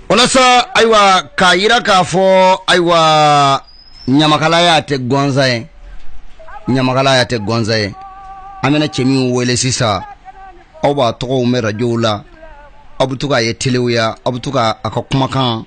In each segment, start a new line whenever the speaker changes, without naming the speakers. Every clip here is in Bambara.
walasa ayiwa k'a jira k'a fɔ ayiwa ɲamakalaya tɛ gansan ye ɲamakalaya tɛ gansan ye an bɛna cɛ min wele sisan aw b'a tɔgɔ mɛn radiyow la aw bɛ to k'a ye telew la aw bɛ to k'a ka kumakan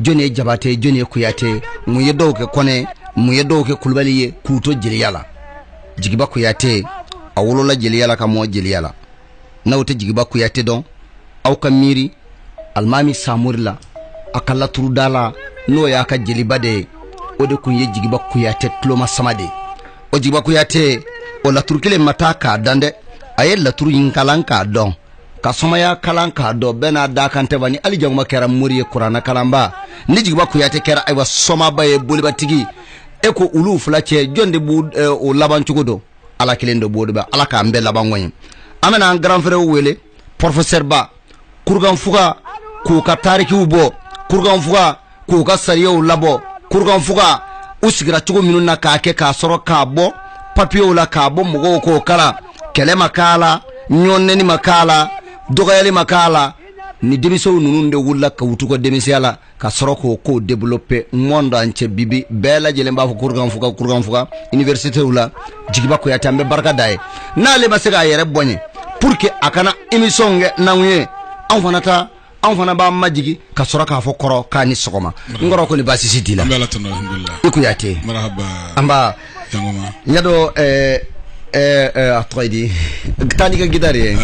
jɔni ye jabate jɔni ye kuyate mun ye dɔw kɛ kɔnɛ mun ye dɔw kɛ kulubali ye k'u to jeliya la jigiba kuyate a wolola jeliya la ka mɔɔ jeliya la n'aw tɛ jigiba kuyate dɔn aw ka miiri alimami samori la a ka laturudala n'o y'a ka jeliba de ye o de tun ye jigiba kuyate tulomasama de ye o jigiba kuyate o laturu kelen ma ta k'a dan dɛ a ye laturu in kalan k'a dɔn ka somaya kalan k'a dɔn bɛɛ n'a dakan tɛ wa ni ali jangoma kɛra mori ye kurana kalanba ni jigiba kuyate kɛra ayiwa somaba ye bolibatigi ye ko olu fila cɛ jɔn de b'u eh, o laban cogo dɔn ala kelen de b'o de bɛ ala k'an bɛɛ laban ko ɲɛ an bɛna an grand frère wele pɔrɔfɛsɛriba kurukanfuga k'u ka tarikiw bɔ kurukanfuga k'u ka sariyaw labɔ kurukanfuga u sigira cogo minnu na k'a kɛ k'a sɔrɔ k'a bɔ papiyew la k'a bɔ mɔgɔw k'o kalan kɛlɛ ma k'a la ɲɔnnɛni ma k'a la dɔgɔyali ma k'a la ni denmisɛnw ninnu de wulila k'u to u ka denmisɛnya la ka sɔrɔ k'o kow développer monde entier bi bi bɛɛ lajɛlen b'a fɔ kurukanfuga kurukanfuga universitéw la jigiba kuyate an bɛ barika d'a ye n'ale ma se k'a yɛrɛ bonya pour que a kana émission kɛ n'anw ye anw fana ta anw fana b'an majigin ka sɔrɔ k'a fɔ kɔrɔ k'a ni sɔgɔma n kɔrɔ kori baasi si t'i la an bɛ ala tanu alhamdulilayi i kuyate marahaba an b'a jangoma n y'a dɔn ɛɛ ɛɛ ɛɛ, a tɔgɔ ye di taa n'i ka gitari ye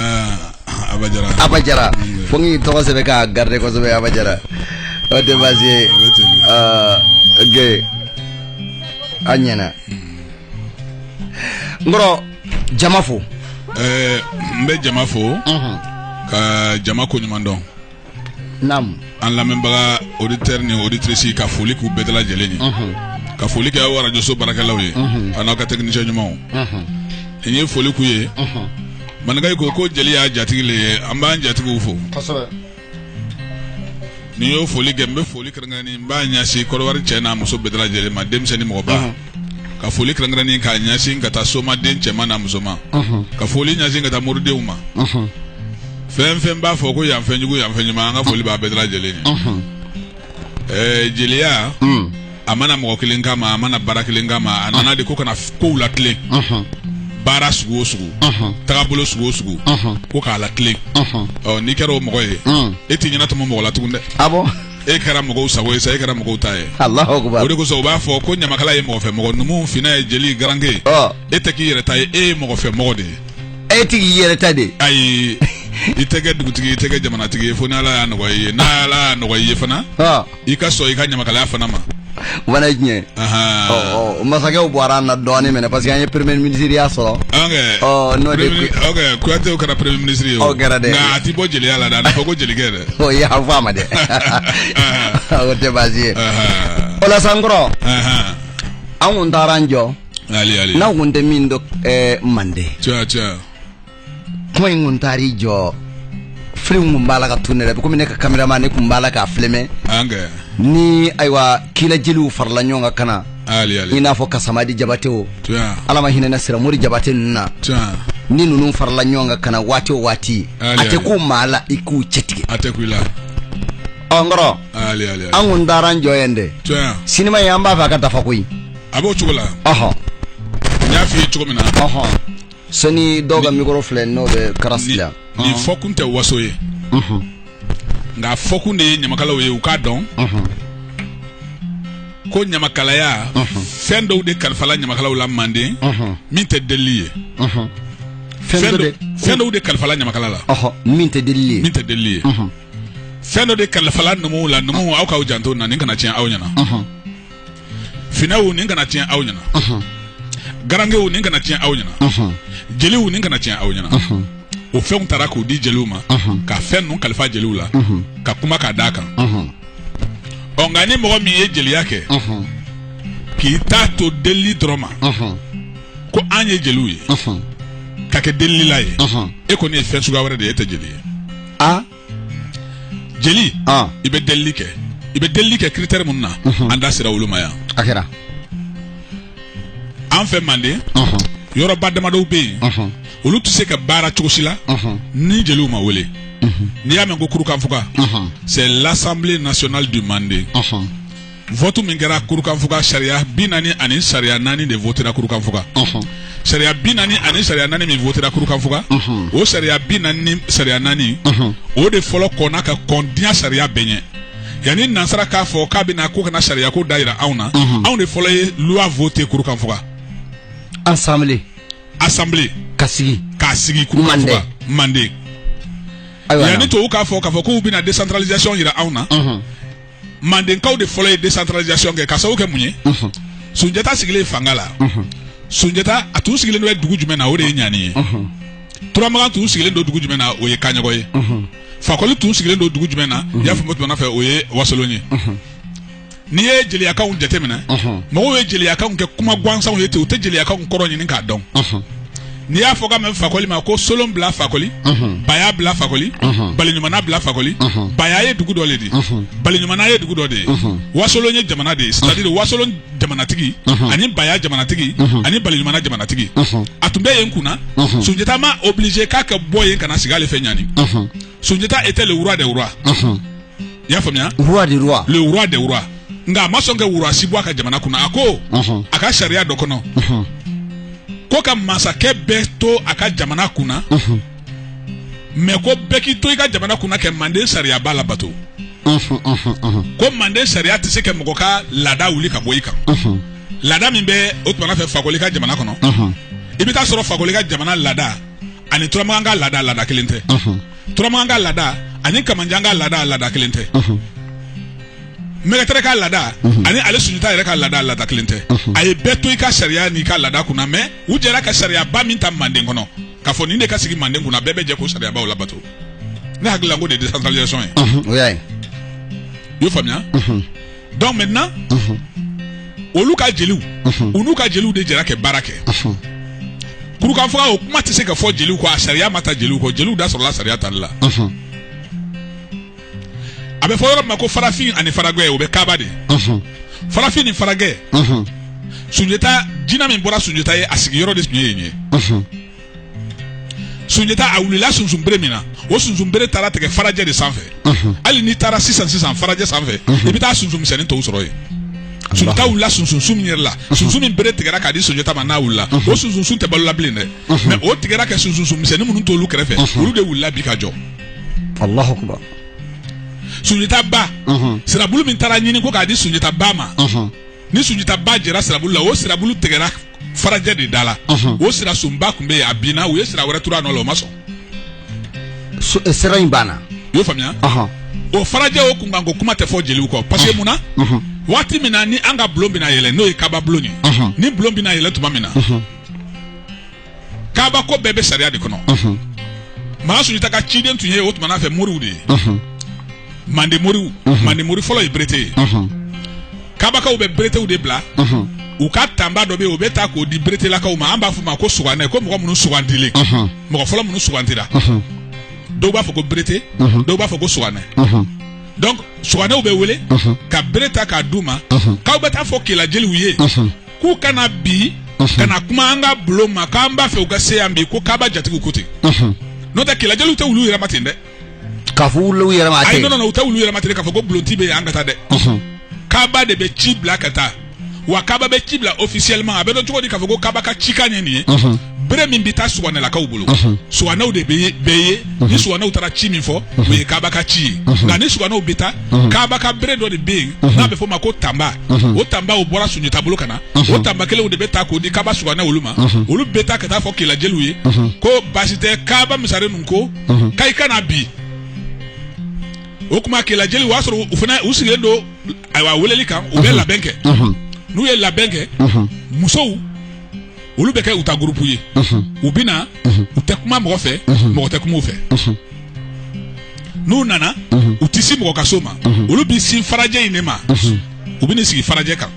Ah, abajara abajara fo n k'i tɔgɔ sɛbɛn k'a garder kosɛbɛ abajara o tɛ baasi ye o bɛ ten Ah, ok a ɲɛna n kɔrɔ jama fo ɛɛ n bɛ jama fo ka jama ko ɲuman dɔn naamu an lamɛnbaga auditeur ni auditrice ka foli k'u bɛɛ dalajɛlen ye ka foli kɛ aw arajoso baarakɛlaw ye an'aw ka technicien ɲumanw n ye foli k'u ye maninkaw ko ko jeli y'a jatigi le ye an b'an jatigiw fo ni n y'o foli kɛ n bɛ foli kɛrɛnkɛrɛnnen n b'a ɲɛsin kɔdɔwari cɛ n'a muso bɛɛ dalajɛlen ma denmisɛnnin mɔgɔba Ɔnhɔn. ka foli kɛrɛnkɛrɛnnen k'a ɲɛsin ka taa somaden cɛman n'a musoman Ɔnhɔn. ka foli ɲɛsin ka taa moridenw ma Ɔnhɔn. fɛn fɛn b'a fɔ ko yanfɛ jugu yanfɛ ɲuman an ka foli b'a bɛɛ dalajɛlen ye Ɔnhɔn. ɛɛ jeliya hmm. a ma na mɔgɔ kelen kama a ma na baara kelen kama a nana de ko ka na kow latilen baara sugu o sugu tagabolo sugu o sugu ko k'a latilen ɔ n'i kɛra o mɔgɔ ye hmm. e t'i ɲɛnatɔmɔ mɔgɔ la tugun dɛ ah e kɛra mɔgɔw sago ye sa e kɛra mɔgɔw ta ye o de kosɔn u b'a fɔ ko ɲamakala ye mɔgɔfɛ mɔgɔ numu fina ye jeli garanke ye e tɛ k'i yɛrɛ ta ye e ye mɔgɔfɛ mɔgɔ de ye e tigi y'i yɛrɛ ta de ayi i tɛ kɛ dugutigi i tɛ kɛ jamanatigi ye fo ni ala y'a nɔgɔya i ye ni ala y'a nɔgɔya i ye fana i ka sɔn i ka ɲamakalaya fana ma o fana ye tiɲɛ ye masakɛw bɔra an na dɔɔnin minɛ parce que an ye premier ministre ya sɔrɔ n'o de ok Kuyatew kɛra premier ministre ye o kɛra dɛ nka a ti bɔ jeliya la dɛ a na fɔ ko jelikɛ dɛ o ye an fɔ a ma dɛ o tɛ baasi ye o la sa n kɔrɔ an kun taara an jɔ n'aw kun tɛ min dɔn eh, mande kuma in kun taar'i jɔ filimu kun b'a la ka tourner komi ne ka caméraman nin kun b'a la k'a filmer ni ayiwa kela jeliw farala ɲɔgɔn kan ka na i n'a fɔ kasemadi jabate o ala ma hinɛna siramori jabate ninnu na ni ninnu farala ɲɔgɔn kan ka na waati o waati a tɛ ko maa la i k'u cɛtigɛ ɔ n kɔrɔ an kun taara an jɔ yan dɛ sinima ye an b'a fɛ a ka dafa koyi a b'o cogo la n y'a fɔ i ye cogo min na sani dɔw ka mikɔrɔ filɛ n'o bɛ karasi la nin fɔkun tɛ waso ye nka fɔkun de ye ɲamakalaw ye u k'a dɔn ko ɲamakalaya fɛn dɔw de kalifala ɲamakalaw la manden min tɛ delili ye fɛn dɔw de kalifala ɲamakala la min tɛ delili ye min tɛ delili ye fɛn dɔ de kalifala numuw la numuw aw k'aw janto na nin kana tiɲɛ aw ɲɛna finɛw nin kana tiɲɛ aw ɲɛna garankew nin kana tiɲɛ aw ɲɛna jeliw nin kana tiɲɛ aw ɲɛna o fɛnw tara k'u di jeliw ma ka fɛn ninnu kalifa jeliw la ka kuma k'a d'a kan ɔ nka ni mɔgɔ min ye jeliya kɛ k'i ta to delili dɔrɔn ma ko an ye jeliw ye ka kɛ delilila ye e kɔni ye fɛn suguya wɛrɛ de ye e tɛ jeli ye jeli i bɛ delili kɛ i bɛ delili kɛ critère minnu na an da sera olu ma yan a kɛra an fɛ manden yɔrɔba damadɔw bɛ yen olu tɛ se ka baara cogo si la ni jeliw ma wele n'i y'a mɛn ko kurukanfuga c'est l'assemblée nationale du manden vote min kɛra kurukanfuga sariya bi naani ani sariya naani de votera kurukanfuga sariya bi naani ani sariya naani min votera kurukanfuga o sariya bi naani ni sariya naani o de fɔlɔ kɔnna ka kɔn diɲɛ sariya bɛɛ ɲɛ yanni nansara k'a fɔ k'a bɛ na ko ka na sariyako da yira anw na anw de fɔlɔ ye loi vote kurukanfuga assemblée assemblée ka sigi k'a sigi kurukanfuga manden yanni tubabu k'a fɔ k'a fɔ k'u bɛna décentralisation yira anw na mandenkaw de fɔlɔ ye décentralisation kɛ ka sababu kɛ mun ye sunjata sigilen fanga la sunjata a tun sigilen bɛ dugu jumɛn na o de ye ɲani ye turamagan tun sigilen don dugu jumɛn na o ye kaɲɔgɔ ye fakoli tun sigilen don dugu jumɛn na i y'a faamu tuma fɛ o ye wasolon ye n'i ye jeliyakanw jateminɛ mɔgɔw ye jeliyakanw kɛ kuma gansanw ye ten u tɛ jeliyakanw kɔrɔ ɲini k'a dɔn n'i y'a fɔ ka mɛn fakoli ma ko solon bila fakoli baya bila fakoli baliɲuman bila fakoli baya ye dugu dɔ de di baliɲuman ye dugu dɔ de ye wasolon ye jamana de ye c'est-à-dire wasolon jamanatigi ani baya jamanatigi ani baliɲuman jamanatigi a tun bɛ yen kunna sunjata m'a obligé k'a ka bɔ yen ka na sigi ale fɛ ɲani sunjata était le roi des rois i y'a faamuya roi des rois le roi des rois nka a ma sɔn ka roi si bɔ a ka jamana kunna a ko a ka sariya dɔ kɔnɔ ko ka masakɛ bɛɛ to a ka jamana kunna mais ko bɛɛ k'i to i ka jamana kunna kɛ manden sariyaba labato ko manden sariya tɛ se ka mɔgɔ ka laada wuli ka bɔ i kan laada min bɛ o tuma n'a fɛ fakoli ka jamana kɔnɔ i bɛ taa sɔrɔ fakoli ka jamana laada ani turamakan ka laada laada kelen tɛ turamakan ka laada ani kamanjan ka laada laada kelen tɛ mɛgɛtɛrɛ ka laada ani ale sunjata yɛrɛ ka laada laada kelen tɛ a ye bɛɛ to i ka sariya n'i ka laada kunna mais u jɛra ka sariyaba min ta manden kɔnɔ k'a fɔ nin de ka sigi manden kunna bɛɛ bɛ jɛ k'o sariyabaw labato ne hakili la k'o de ye décentralisation ye o y'a ye i y'o faamuya donc maintenant olu ka jeliw u n'u ka jeliw de jɛra kɛ baara kɛ kurukanfuga o kuma tɛ se ka fɔ jeliw kɔ a sariya ma ta jeliw kɔ jeliw da sɔrɔla sariya tali la a bɛ fɔ yɔrɔ min ma ko farafin ani faragɛ o bɛ kaaba de farafin ni faragɛ sunjata jina min bɔra sunjata ye a sigiyɔrɔ de tun ye yen ye sunjata a wulila sunsunbere min na o sunsunbere taara tigɛ farajɛ de sanfɛ hali n'i taara sisan sisan farajɛ sanfɛ i bɛ taa sunsun misɛnnin tɔw sɔrɔ yen sunjata wulila sunsunsun min yɛrɛ la sunsun min bere tigɛra k'a di sunjata ma n'a wulila o sunsunsun tɛ balo la bilen dɛ mais o tigɛra kɛ sunsunsun misɛnnin minnu t'olu kɛrɛfɛ olu de wulila bi ka jɔ alahu akubar sunjata ba sirabulu min taara ɲini ko k'a di sunjata ba ma ni sunjata ba jɛra sirabulu la o sirabulu tigɛra farajɛ de da la o sira sunba tun bɛ yen a binna u ye sira wɛrɛ turu a nɔ la o ma sɔn So- eh, sira in banna i y'o faamuya Ɔhɔn. o farajɛ o kunkanko kuma tɛ fɔ jeliw kɔ parce que mun na waati min na ni an ka bulon bɛna yɛlɛ n'o ye kaba bulon ye Ɔhɔn. ni bulon bɛna yɛlɛ tuma min na kaba ko bɛɛ bɛ sariya de kɔnɔ maa sunjata ka ciden tun ye o tuma n'a fɛ moriw de ye mande moriw mande mori fɔlɔ ye berete ye kabakaw bɛ beretew de bila u ka tanba dɔ bɛ yen u bɛ taa k'o di beretelakaw ma an b'a fɔ ma ko suganɛ ko mɔgɔ minnu sugandilen mɔgɔ fɔlɔ minnu sugandira dɔw b'a fɔ ko berete dɔw b'a fɔ ko suganɛ donc suganɛw bɛ wele ka bere ta k'a d'u ma k'aw bɛ t'a fɔ kelajeliw ye k'u ka na bi ka na kuma an ka bulon ma k'an b'a fɛ u ka se yan bi ko kaba jatigiw ko ten n'o tɛ kelajeliw tɛ wuli u yɛrɛ ma ten dɛ k'a fɔ wuli u yɛrɛ ma a tɛ non non u tɛ wuli u yɛrɛ ma ten k'a fɔ ko bulonti bɛ yen an ka taa dɛ kaba de bɛ ci bila ka taa wa kaba bɛ ci bila officiellement a bɛ dɔn cogo di k'a fɔ ko kaba ka cikan ye nin ye bere min bɛ taa suganɛlakaw bolo suganɛw de bɛ bɛɛ ye ni suganɛw taara ci min fɔ o ye kaba ka ci ye nka ni suganɛw bɛ taa kaba ka bere dɔ de bɛ yen n'a bɛ fɔ o ma ko tanba o tanba o bɔra sunjata bolo ka na o tanba kelen o de bɛ ta k'o di kaba suganɛ olu ma olu bɛ taa ka t'a fɔ kela jeliw ye ko baasi tɛ kaba masaren ninnu ko ka i ka na bi o tuma kela jeliw o y'a sɔrɔ u fana u sigilen don ayiwa weleli kan u bɛ labɛn kɛ n'u ye labɛn kɛ musow olu bɛ kɛ u ta gurupu ye u bɛ na u tɛ kuma mɔgɔ fɛ mɔgɔ tɛ kuma u fɛ n'u nana u tɛ se mɔgɔ ka so ma olu bɛ sin farajɛ in de ma u bɛ n'i sigi farajɛ kan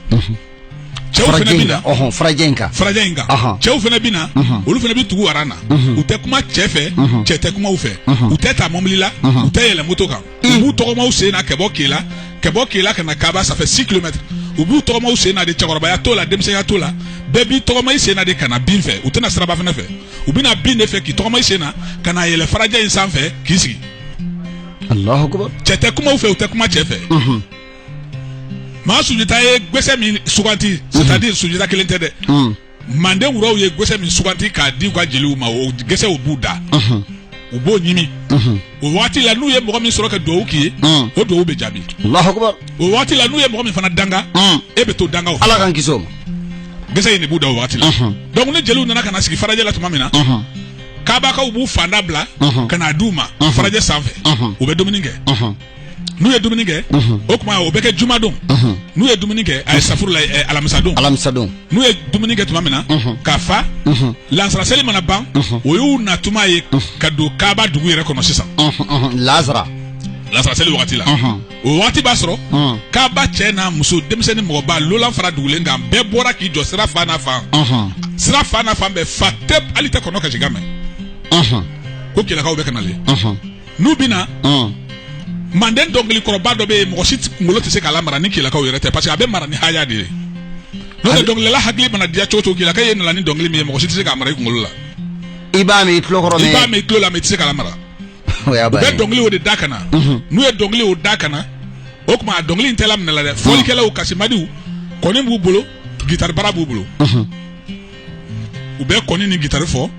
cɛw fana bɛ na ɔhɔn farajɛ in kan farajɛ in kan Ahan. cɛw fana bɛ na olu fana bɛ tugu aran na u tɛ kuma cɛ fɛ cɛ tɛ kuma u fɛ u tɛ taa mɔbili la u tɛ yɛlɛ moto kan u b'u tɔgɔma u sen na ka bɔ kela ka bɔ kela ka na kaba ça fait 6 kilomètres u b'u tɔgɔma u sen na de cɛkɔrɔbaya t'o la denmisɛnya t'o la bɛɛ b'i tɔgɔma i sen na de ka na bin fɛ u tɛ na siraba fana fɛ u bɛ na bin de fɛ k'i tɔgɔma i sen na ka na yɛlɛ farajɛ in sanfɛ k'i sigi alahu akubar cɛ tɛ kuma u fɛ u tɛ kuma cɛ fɛ maa sunjata ye gɛsɛ min suganti c'est-à-dire sunjata kelen tɛ dɛ Mm. manden wuraw ye gɛsɛ min suganti k'a di u ka jeliw ma o gɛsɛw b'u da Mhm. u b'o ɲimi Mhm. o waati la n'u ye mɔgɔ min sɔrɔ ka duwawu k'i ye Mm. o duwawu bɛ jaabi Allahu akbar. o waati la n'u ye mɔgɔ min fana danga Mm. e bɛ to danga o Ala k'an kisi o ma. gɛsɛ in de b'u da o waati la Mhm. donc ni jeliw nana ka na sigi farajɛ la tuma min na Mhm. kaabakaw b'u fanda bila Mhm. ka n'a d'u ma Mhm. farajɛ sanfɛ Mhm. u bɛ dumuni kɛ Mhm. n'u ye dumuni kɛ o tuma o bɛ kɛ jumadon n'u ye dumuni kɛ astafurula alamisadon alamisadon n'u ye dumuni kɛ tuma min na ka fa lasara seli mana ban o y'u na tuma ye ka don kaaba dugu yɛrɛ kɔnɔ sisan lasara lasara seli wagati la o waati b'a sɔrɔ kaaba cɛ n'a muso denmisɛnnin mɔgɔba lolan fara dugulen kan bɛɛ bɔra k'i jɔ sira fan n'a fan sira fan n'a fan bɛ fa tɛp hali i tɛ kɔnɔ kasikan mɛn ko kelakaw bɛ ka na le n'u bɛ na manden dɔnkili kɔrɔba dɔ bɛ yen mɔgɔ si kunkolo tɛ se k'a lamara ni kelakaw yɛrɛ tɛ parce que a bɛ mara ni haya de ye n'o tɛ dɔnkilidala hakili mana diya cogo o cogo kelakaw nana ni dɔnkili min ye mɔgɔ si tɛ se k'a mara i kunkolo la i b'a mɛn i tulo kɔrɔ i b'a mɛn i tulo la mais i tɛ se k'a mara u bɛ dɔnkili o de da ka na mhm. n'u ye dɔnkili o da ka na o tuma a dɔnkili in tɛ laminɛ la dɛ mhm. fɔlikɛlaw kasimadiw kɔni b'u bolo gitari bara b'u bolo mhm. u bɛ kɔni ni gitari fɔ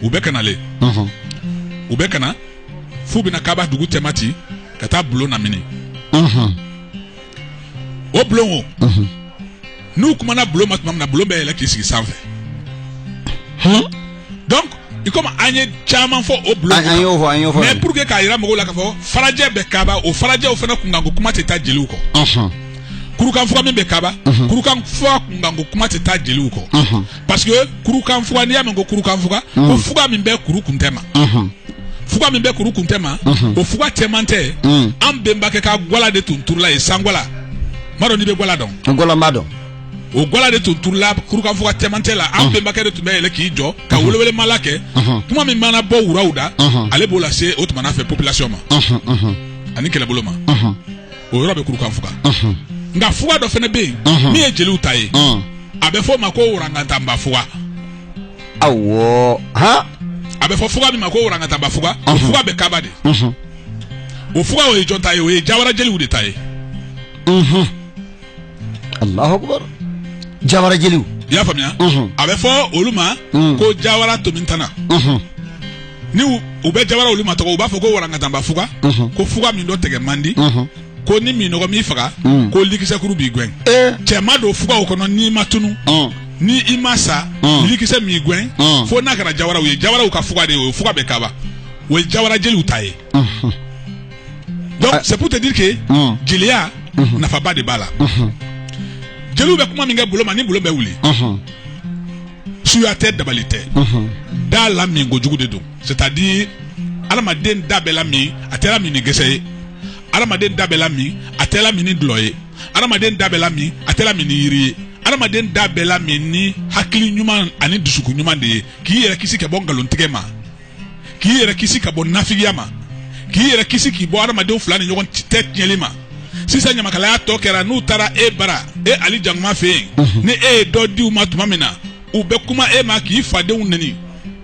u bɛ ka na le u bɛ ka na f'u bɛna kaba dugu cɛma ci ka taa bulon lamini o bulon n'u kumana bulon ma tuma min na bulon bɛ yɛlɛ k'i sigi sanfɛ donc i komi an ye caman fɔ o bulon an y'o fɔ an y'o fɔ mais pour que k'a jira mɔgɔw la k'a fɔ farajɛ bɛ kaba o farajɛw fana kunkanko kuma tɛ taa jeliw kɔ kurukanfuga min bɛ kaba mhm. kurukanfuga kunkanko kuma tɛ taa jeliw kɔ mhm. parce que kurukanfuga n'i y'a mɛn ko kurukanfuga mhm. ko fuga min bɛ kuru kuntɛ ma fuga min bɛ kuru kuntɛ ma o fuga cɛmantɛ an bɛnbakɛ ka gwala de tun turula yen sangwala m'a dɔn n'i bɛ gwala dɔn gwala n b'a dɔn o gwala de tun turula kurukanfuga cɛmantɛ la an bɛnbakɛ de tun bɛ yɛlɛ k'i jɔ ka welewelemala kɛ kuma min mana bɔ wuraw da ale b'o lase o tuma fɛ population ma ani kɛlɛbolo ma o yɔrɔ bɛ kurukan fuga nka fuga dɔ fana bɛ yen min ye jeliw ta ye a bɛ fɔ o ma ko warangatanba fuga awɔ han a bɛ fɔ fuga min ma ko warangatanba fuga o fuga bɛ kaba de o fuga o ye jɔn ta ye o ye jawara jeliw de ta ye alahu akubar jawara jeliw i y'a faamuya a bɛ fɔ olu ma ko jawara tomintana ni u bɛ jawara olu matɔgɔ u b'a fɔ ko warangatanba fuga ko fuga min dɔ tigɛ man di ko ni minnɔgɔ m'i faga ko likisɛkuru b'i gɛn cɛ ma don fuga o kɔnɔ n'i ma tunu ni i ma sa likisɛ m'i gɛn fo n'a kɛra jawaraw ye jawaraw ka fuga de ye o fuga bɛ kaba o ye jawara jeliw ta ye c'est pour te dire que jeliya nafaba de b'a la jeliw bɛ kuma min kɛ bulon ma ni bulon bɛ wuli suya tɛ dabali tɛ da lamin kojugu de don c'est-à-dire adamaden da bɛ lamin a tɛ lamin ni gɛsɛ ye adamaden da bɛ lamin a tɛ lamin ni dɔlɔ ye adamaden da bɛ lamin a tɛ lamin ni yiri ye adamaden da bɛ lamin ni hakili ɲuman ani dusukun ɲuman de ye k'i yɛrɛ kisi ka bɔ nkalontigɛ ma k'i yɛrɛ kisi ka bɔ nafigiya ma k'i yɛrɛ kisi k'i bɔ adamadenw fila ni ɲɔgɔn tɛ tiɲɛli ma sisan ɲamakalaya tɔ kɛra n'u taara e bara e ali jankoma fɛ yen mhm. ni e ye dɔ di u ma tuma min na u bɛ kuma e ma k'i fadenw neni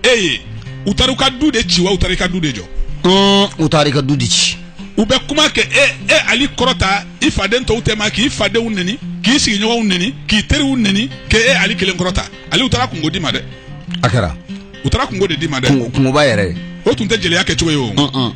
e ye u taara i ka du de ci wa u taara i ka du de jɔ mm, u taara i ka du de ci u bɛ kuma k'e e ali kɔrɔta i faden tɔw tɛma k'i fadenw neni k'i sigiɲɔgɔnw neni k'i teriw neni k'e e ali kelen kɔrɔta ali u taara kunko d'i ma dɛ a kɛra u taara kunko de d'i ma dɛ Kunko- kunkoba yɛrɛ ye o tun tɛ jeliya kɛ cogo ye o Ɔn-ɔn.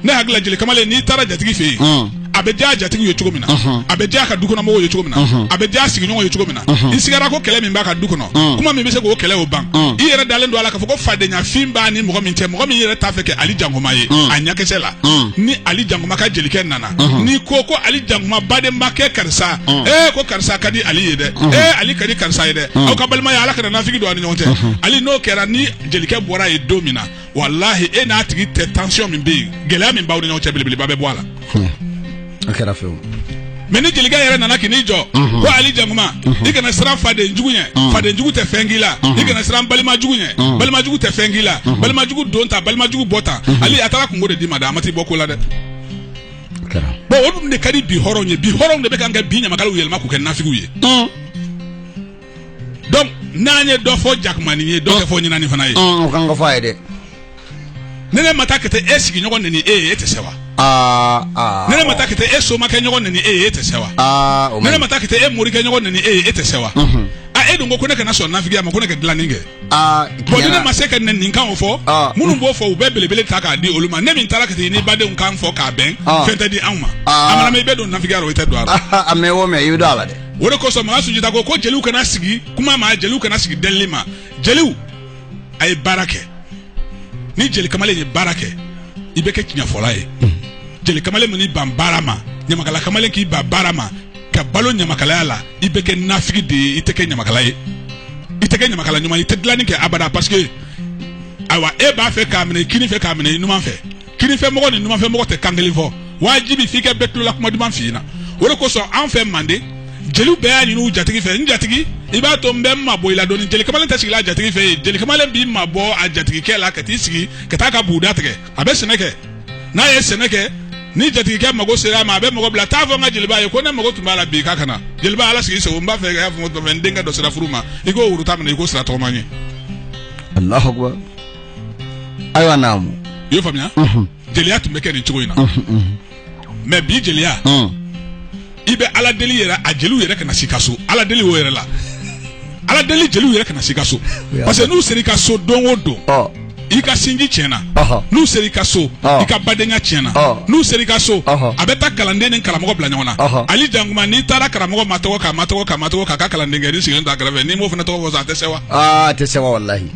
ne hakili la jeli kamalen n'i taara jatigi fɛ yen Ɔn. a bɛ diya jatigiw ye cogo min na Ɔhɔn. a bɛ diya a ka dukɔnɔmɔgɔw ye cogo min na Ɔhɔn. a bɛ diya sigiɲɔgɔnw ye cogo min na Ɔhɔn. i sigara ko kɛlɛ min b'a ka du kɔnɔ Ɔn. kuma min bɛ se k'o kɛlɛ o ban Ɔn. i yɛrɛ dalen don a la k'a fɔ ko fadenyafin b'a ni mɔgɔ min cɛ mɔgɔ min yɛrɛ t'a fɛ k'e ali jankoma ye Ɔn. a ɲɛkisɛ la Ɔn. ni ali jankoma ka jelikɛ nana n'i ko ko ali jankuma baden ma kɛ karisa e ko karisa ka di ali ye dɛ e ali ka di karisa ye dɛ aw ka balimaya ala kana nafigi don a ni ɲɔgɔn cɛ ali n'o kɛra ni jelikɛ bɔra ye don min na walahi e n'a tigi tɛ tansiyɔn min bɛ yen gɛlɛya min b'aw ni ɲɔgɔn cɛ belebeleba bɛ bɔ a la a kɛra fewu mais ni jelikɛ yɛrɛ nana k'i jɔ ko ali jankuma i kana siran faden jugu ɲɛ faden jugu tɛ fɛn k'i la i kana siran balima jugu ɲɛ balima jugu tɛ fɛn k'i la balima jugu don ta balima jugu bɔ ta ali a taara kunko de d'i ma dɛ a ma t'i bɔ ko la dɛ o de ka di bi hɔrɔn ye bi hɔrɔn de bɛ ka bi ɲamakala yɛlɛma k'u kɛ nafigiw ye donc n'an ye dɔ fɔ jakumanin ye dɔ fɔ ɲinɛnin fana ye fɔ ye dɛ ni ne ma taa ka e sigiɲɔgɔn nɛni e ye e tɛ sewa ni ne ma taa ka e somakɛ ɲɔgɔn nɛni e ye e tɛ sewa ni ne ma taa ka e morikɛ ɲɔgɔn nɛni e ye e tɛ sewa e dun ko ne kana sɔn nafigiya ma ko ne ka dilanni kɛ aa bon ni ne ma se ka nɛninikan o fɔ Ah. minnu b'o fɔ u bɛ belebele ta k'a di olu ma ne min taara ka taa i ni badenw kan fɔ k'a bɛn Ah. fɛn tɛ di anw ma Ah. a mana mɛɛn i bɛ don nafigiya la o i tɛ don a la a mɛɛn o mɛɛn i bɛ don a la dɛ o de kosɔn makan sunjata ko ko jeliw kana sigi kuma ma jeliw kana sigi delili ma jeliw a ye baara kɛ ni jeli kamalen ye baara kɛ i bɛ kɛ tiɲɛfɔla ye jeli kamalen min n'i ban baara ma ɲamakala kamalen k'i ban baara ma ka balo ɲamakalaya la i bɛ kɛ nafigi de ye i tɛ kɛ ɲamakala ye i tɛ kɛ ɲamakala ɲuman i tɛ dilanni kɛ abada parce que ayiwa e b'a fɛ k'a minɛ kini fɛ k'a minɛ i numan fɛ kini fɛ mɔgɔ ni numan fɛ mɔgɔ tɛ kan kelen fɔ wajibi f'i ka bɛɛ tulola kuma duman f'i ɲɛna o de kosɔn an fɛ manden jeliw bɛɛ y'a ɲini u jatigi fɛ n jatigi i b'a to n bɛ n mabɔ i la dɔɔni jeli kamalen tɛ sigila a jatigi fɛ yen jeli kamalen b'i mabɔ a jatigikɛ la ka t'i sigi ka taa ka buguda tigɛ a bɛ sɛnɛ kɛ n'a ye sɛnɛ kɛ ni jatigikɛ mago sera a ma a bɛ mɔgɔ bila t'a fɔ n ka jeliba ye ko ne mago tun b'a la bi k'a ka na jeliba ala sago i sago n b'a fɛ ka fɔ n denkɛ dɔ sera furu ma i k'o woro tan minɛ i k'o sira tɔgɔma n ye allahu akbar ayiwa naamu i y'o faamuya jeliya tun bɛ kɛ nin cogo in na mais bi jeliya i bɛ ala deli yɛrɛ a jeliw yɛrɛ kana s'i ka so ala deli o yɛrɛ la ala deli jeliw yɛrɛ kana s'i ka so parce que n'u sera i ka so don o don i ka sinji tiɲɛna n'u sera i ka so i ka badenya tiɲɛna n'u sera i ka so a bɛ taa kalanden ni karamɔgɔ bila ɲɔgɔn na ali jankuma n'i taara karamɔgɔ matɔgɔ k'a matɔgɔ k'a matɔgɔ k'a ka kalandenkɛnin sigilen t'a kɛrɛfɛ n'i m'o fana tɔgɔ fɔ a tɛ sewa a tɛ sewa walahi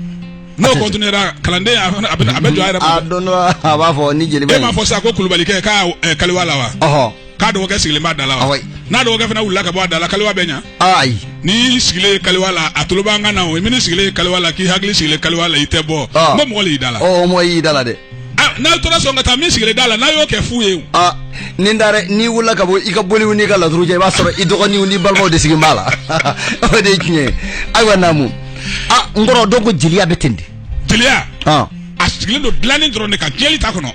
n'o continuer ra kalanden a fana- a bɛ a bɛ jɔ a yɛrɛ a ma don dɔ a b'a fɔ ni jeliba e m'a fɔ sa ko kulubalikɛ k'a eh, kaliwa la wa ɔhɔ k'a dɔgɔkɛ sigilen b'a da la wa Awɔ. n'a dɔgɔkɛ fana wulila ka bɔ a da la kaliwa bɛ ɲa ayi n'i sigilen ye kaliwa la a tulo b'an kan na o i min'i sigilen ye kaliwa la k'i hakili sigilen kaliwa la i tɛ bɔ Ɔ. n ko mɔgɔ le y'i da la ɔ o mɔ y'i da la dɛ n'a tora sɔn ka taa min sigilen da la n'a y'o kɛ fu ye ni da n'i wulila ka bɔ i ka boliw n'i ka lauru cɛ i b'a sɔrɔ i dɔgɔninw ni balimaw de sigilen b'a la o de ye tiɲɛ ye ayiwa naamu aa n kɔrɔ donc jeliya bɛ ten di jeliya a sigilen don dilanin dɔrɔn de kan jeli ta kɔnɔ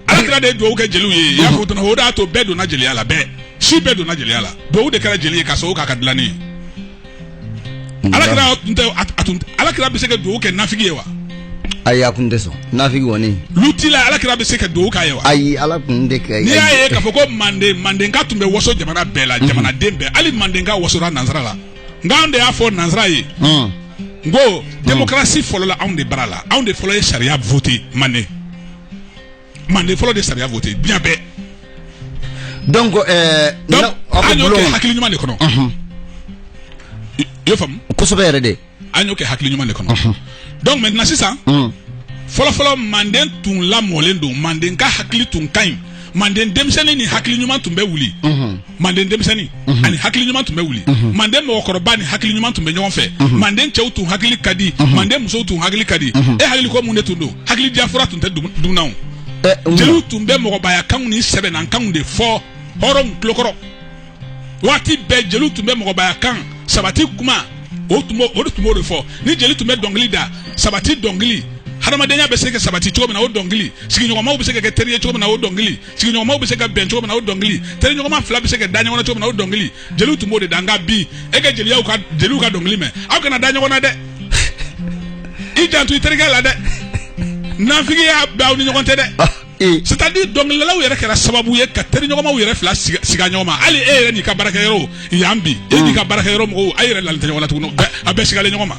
ala kira de dugawu kɛ jeliw ye y'a fɔ o de y'a to bɛɛ donna jeliya la bɛɛ si bɛɛ donna jeliya la dugawu de kɛra jeli ye ka sababu k'a ka dilanin ye alakira bɛ se ka dugawu kɛ nafigi ye wa ayi a kun tɛ sɔn nafigi kɔni lutila alakira bɛ se ka dugawu k'a ye wa ayi ala kun de kɛ n'i y'a ye k'a fɔ ko manden mandenka tun bɛ waso jamana bɛɛ la jamanaden bɛɛ hali mandenka wasora nansara la nka anw de y'a fɔ nansara ye ko démocratie fɔlɔla anw de bara la anw de fɔlɔ ye sariya vote manden manden fɔlɔ de sariya vote diɲɛ bɛɛ donc euh, donc na- aw bɛ an y'o bulon kɛ kɔnɔ. hakili ɲuman de kɔnɔ Unhun. i i y'o faamu kosɛbɛ yɛrɛ de an y'o kɛ hakili ɲuman de kɔnɔ donc maintenant sisan Mm. fɔlɔfɔlɔ manden tun lamɔlen don mandenka hakili tun ka ɲi manden denmisɛnnin ni hakili ɲuman tun bɛ wuli manden denmisɛnnin mhm. ani hakili ɲuman tun bɛ wuli mhm. manden mɔgɔkɔrɔba ni hakili ɲuman tun bɛ ɲɔgɔn fɛ mhm. manden cɛw tun hakili ka di manden musow tun hakili ka di e hakili ko mun de tun don hakili diya fura tun tɛ dunna eh, jeliw tun bɛ mɔgɔbaya kanw ni sɛbɛya kanw de fɔ hɔrɔnw tulokɔrɔ waati bɛɛ jeliw tun bɛ mɔgɔbaya kan sabati kuma o tun b'o o de tun b'o de fɔ ni jeli tun bɛ dɔnkili da sabati dɔnkili hadamadenya bɛ se ka sabati cogo min na o dɔnkili sigiɲɔgɔnmaw bɛ se ka kɛ teri ye cogo min na o dɔnkili sigiɲɔgɔnmaw bɛ se ka bɛn cogo min na o dɔnkili teriɲɔgɔnma fila bɛ se ka da ɲɔgɔn na cogo min na o dɔnkili jeliw tun b'o de da nka bi e ka jeliyaw ka jeliw ka dɔnkili mɛn aw kana da ɲɔgɔn na dɛ i janto i terikɛ la dɛ nafigiya bɛ aw ni ɲɔgɔn cɛ dɛ c'est à dire dɔnkilidalaw yɛrɛ kɛra sababu ye ka teriɲɔgɔnmaw yɛrɛ fila siga siga ɲɔgɔn ma hali e yɛrɛ n'i ka baarakɛyɔrɔ yan bi e n'i ka baarakɛyɔrɔ mɔgɔw a yɛrɛ lalen tɛ ɲɔgɔn na tuguni a bɛɛ sigalen ɲɔgɔn ma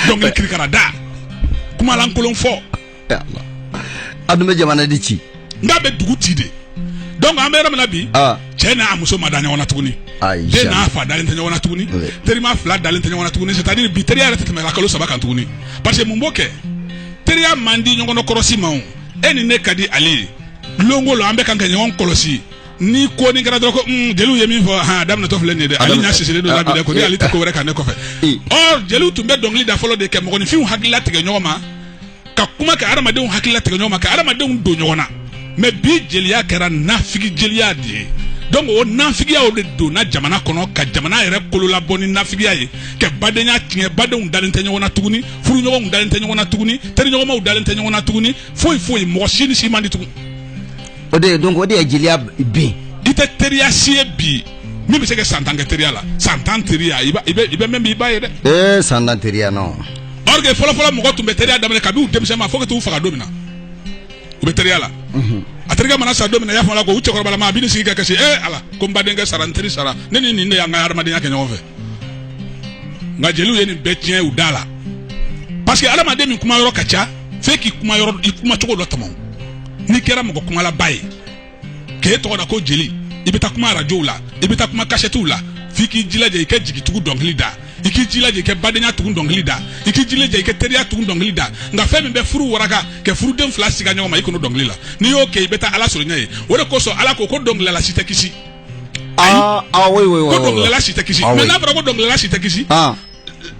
dɔnkili kirikara da kumalankolon fɔ a dun bɛ jamana de ci n'a bɛ dugu ci de donc an bɛ yɔrɔ min na bi cɛ n'a muso ma da ɲɔgɔn na tuguni den n'a fa dalen tɛ ɲɔgɔn na tuguni terima fila dalen tɛ ɲɔgɔn na tuguni c'est à dire bi teriya yɛrɛ tɛ tɛmɛ kalo saba kan tuguni parce que mun b'o kɛ teriya man di ɲɔgɔn kɔrɔsi ma o e ni ne ka di ale ye lonko la an bɛ ka ɲɔgɔn kɔlɔsi ni ko nin kɛra dɔrɔn ko hmm, jeliw ye min fɔ a daminɛtɔ filɛ nin ye dɛ ale ɲa sisilen don labɛn ko ni ale tɛ ko wɛrɛ kan ne kɔfɛ ɔ jeliw tun bɛ dɔnkili da fɔlɔ de ka mɔgɔninfinw hakili latigɛ ɲɔgɔn ma ka kuma ka adamadenw hakili latigɛ ɲɔgɔn ma ka adamadenw don ɲɔgɔn na mais bi jeliya kɛra nafigi jeliya de ye donc o nafigiyaw de donna jamana kɔnɔ ka jamana yɛrɛ kololabɔ ni nafigiya ye ka badenya tiɲɛ badenw dalen tɛ ɲɔgɔn na tuguni furuɲɔgɔnw dalen tɛ ɲɔgɔn na tuguni teriɲɔgɔnmaw dalen tɛ ɲɔgɔn na tuguni foyi foyi mɔgɔ si ni si man di tugun o de ye donc o de ye jeliya bin i tɛ teriya si ye bi min bɛ se ka san tan kɛ teriya la san tan teriya i bɛ i bɛ mɛn bi i b'a ye dɛ. ee san tan teriya non. or que fɔlɔfɔlɔ mɔgɔ tun bɛ teriya daminɛ kabini u denmisɛnma fo ka t'u faga don min na u bɛ teriya la. a terikɛ mana sa don min na i y'a fɔ a la ko u cɛkɔrɔbama a bɛ n'i sigi ka kasi ee ala ko n badenkɛ sara n teri sara ne ni nin de y'an ka hadamadenya kɛ ɲɔgɔn fɛ nka jeliw ye nin bɛɛ tiɲɛ u da la parce que hadamaden min kuma yɔrɔ ka ca f'e k'i kuma yɔrɔ i kuma cogo dɔ tɔmɔ. n'i kɛra mɔgɔ kumalaba ye k'e tɔgɔ da ko jeli i bɛ taa kuma arajow la i bɛ taa kuma kasɛtiw la f'i k'i jilaja i ka jigitugu dɔnkili da i k'i jilaja i ka badenya tugu dɔnkili da i k'i jilaja i ka teriya tugu dɔnkili da nka fɛn min bɛ furu waraka ka furuden fila siga ɲɔgɔn ma i kɔnɔ dɔnkili la n'i y'o kɛ i bɛ taa ala sɔrɔ ɲɛ yen o de kosɔn ala ko ko dɔnkilidala si tɛ kisi ah ah oui oui oui ko dɔnkilidala si tɛ kisi ah, oui. mais n'a fɔra ko dɔnkilidala si tɛ kisi ah.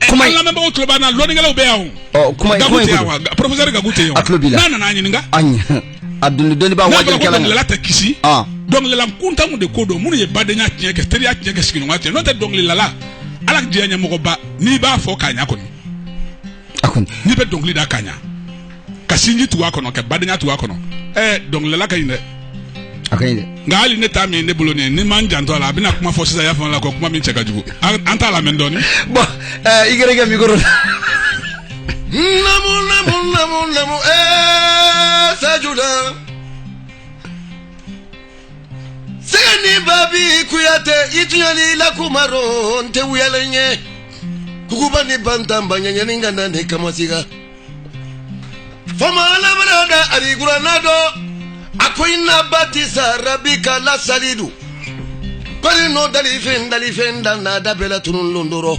kuma an lamɛnbagaw tulo b'an na lɔnnikɛlaw bɛ yan o. ɔ kuma gaku kuma tɛ in yan wa ko professeur gaku tɛ yan wa. A tulo b'i la. n'a nana a ɲininka. a ɲɛ a dɔnni dɔnni b'a n'a fɔra ko wajibi kalan dɔnkilidala tɛ kisi. Ah. dɔnkilidala kuntanw de ko don minnu ye badenya tiɲɛ ka teriya tiɲɛ ka sigiɲɔgɔnya tiɲɛ n'o tɛ dɔnkilidala ala diɲɛ ɲɛmɔgɔba n'i b'a fɔ k'a ɲa kɔni a kɔni n'i bɛ dɔnkili da k'a ɲa ka sinji tugu a kɔnɔ ka badenya tugu a kɔnɔ ɛɛ dɔnkilidala ka ɲi dɛ a ka ɲi dɛ nka hali ne ta min ye ne bolo nin ye n'an m'an janto a la a bɛna kuma fɔ sisan y'a faamu la ko kuma min cɛ ka jugu an an t'a lamɛn dɔɔni bɔn ɛɛ i gɛrɛ kɛ mikoro la namu namu namu namu ɛɛ sajuda sɛgɛ ni babi kuyate i tuɲa le la kuma rɔ n tɛ wuyalen ye kukuba ni bantanba ɲaniɲani ka na ne kamasiga Faamabara da alikurana dɔ a ko inna batisa rabika lasadidu ba n'o dafɛn dafɛn da n'a da bɛɛla tun don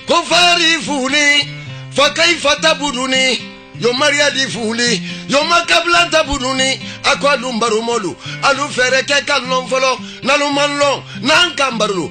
ko fa fili fakayifa tabuduni yomaya di fili yoma kabila an tabuduni a ko a dun baro mɔɔlu alu fɛɛrɛ kɛ ka n lɔn fɔlɔ n'alu ma n lɔn n'an ka baro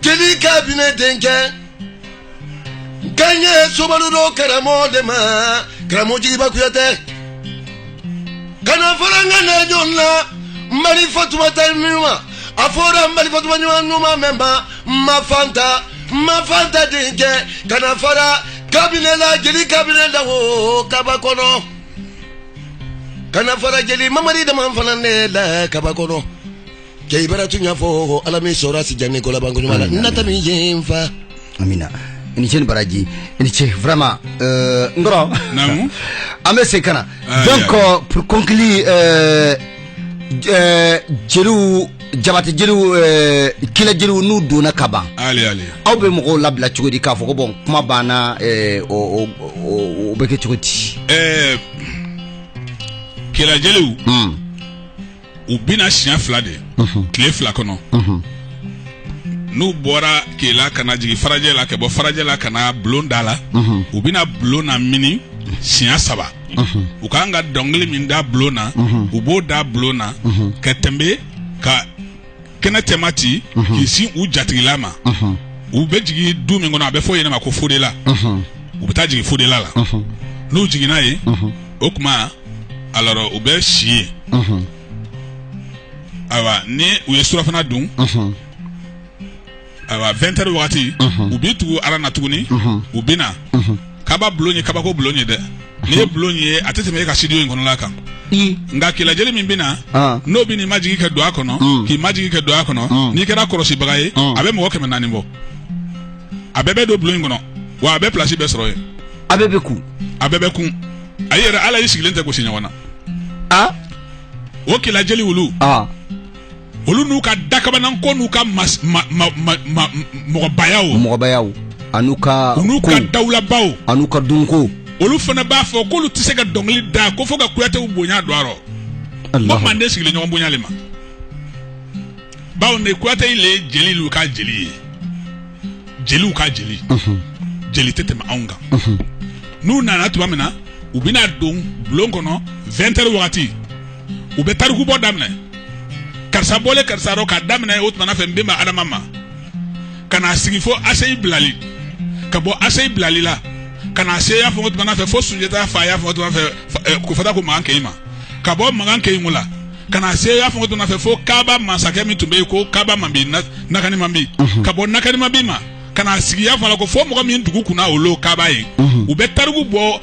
Jeli kabinɛ denkɛ ka ye somaru don karamɔgɔ de ma karamɔgɔ jeliba kuyate kana fara n ŋana ɲɔgɔn na n bari fatumata ɲuman a fɔra n bari fatuma ɲuman ɲuman mɛn ma n ma fanta n ma fanta denkɛ kana fara kabinɛ la jeli kabinɛ la o kaba kɔnɔ kana fara jeli mamadi dama fana ne la kaba kɔnɔ cɛ i bara tuɲa fɔ ala m'i sɔra si jan ni ko laban koɲuman la nata min jɛ n fa amina i ni ce ni baraji i ni ce vraiment euh, n kɔrɔ Naamu. an bɛ segin ka na Ah, donc ya. euh, pour conclure euh, euh, jeliw jabate jeliw euh, kela jeliw n'u donna kaaba ale ale aw bɛ mɔgɔw labila cogo di k'a fɔ ko bon kuma banna euh, o o- o- o bɛ kɛ cogo di ɛɛ kela jeliw Mm. u bɛ na siɲɛ fila de tile fila kɔnɔ n'u bɔra kela ka na jigin farajɛ la ka bɔ farajɛ la ka na bulon da la u bɛ na bulon namini siɲɛ saba u ka kan ka dɔnkili min da bulon na u b'o da bulon na ka tɛmɛ ka kɛnɛ cɛma ci mhm. k'i sin u jatigila ma mhm. u bɛ jigin du min kɔnɔ a bɛ fɔ yen ma ko fodela mhm. u bɛ taa jigin fodela la n'u jiginna yen o tuma alors u bɛ si yen ayiwa ni u ye surafana dun ayiwa 20 heures waati u bɛ tugu a la na tuguni u bɛ na kaaba bulon ye kabako bulon ye dɛ n'i ye bulon ye a tɛ tɛmɛ e ka studio in kɔnɔla kan nka kela jeli min bɛ na n'o b'i majigin ka don a kɔnɔ k'i majigin ka don a kɔnɔ n'i kɛra kɔlɔsibaga ye a bɛ mɔgɔ kɛmɛ naani bɔ a bɛɛ bɛ don bulon in kɔnɔ wa a bɛɛ plasi bɛ sɔrɔ yen a bɛɛ bɛ kun a bɛɛ bɛ kun a yɛrɛ la y'i sigilen tɛ gosi ɲɔgɔn na o kela jeli olu olu n'u ka dakabanan ko n'u ka mɔgɔbaya mɔgɔbaya ani n'u ka n'u ka dawulabaw ani ka dunko olu fana b'a fɔ k'olu tɛ se ka dɔnkili da ko fo ka kuyatew bonya don a rɔ ko manden sigilen ɲɔgɔn bonya le ma bawo ne kuyate le ye jeli lu ka jeli ye jeliw ka jeli jeli tɛ tɛmɛ anw kan n'u nana tuma min na u bɛna don bulon kɔnɔ 20 heures wagati u bɛ tarikubɔ daminɛ karisa bɔlen karisa dɔ k'a daminɛ o tuma fɛ n bɛnba adama ma ka n'a sigi fo aseyi bilali ka bɔ aseyi bilali la ka n'a se y'a fɔ o tuma fɛ fo sunjata fa y'a fɔ tuma fɛ ko fata ko magan kɛɲi ma ka bɔ magan kɛɲi la ka n'a se y'a fɔ o tuma fɛ fo kaaba masakɛ min tun bɛ yen ko kaaba manbi nakani manbi ka bɔ nakani manbi ma ka n'a sigi y'a fɔ ko fo mɔgɔ min dugu kunna olu kaaba ye u bɛ tariku bɔ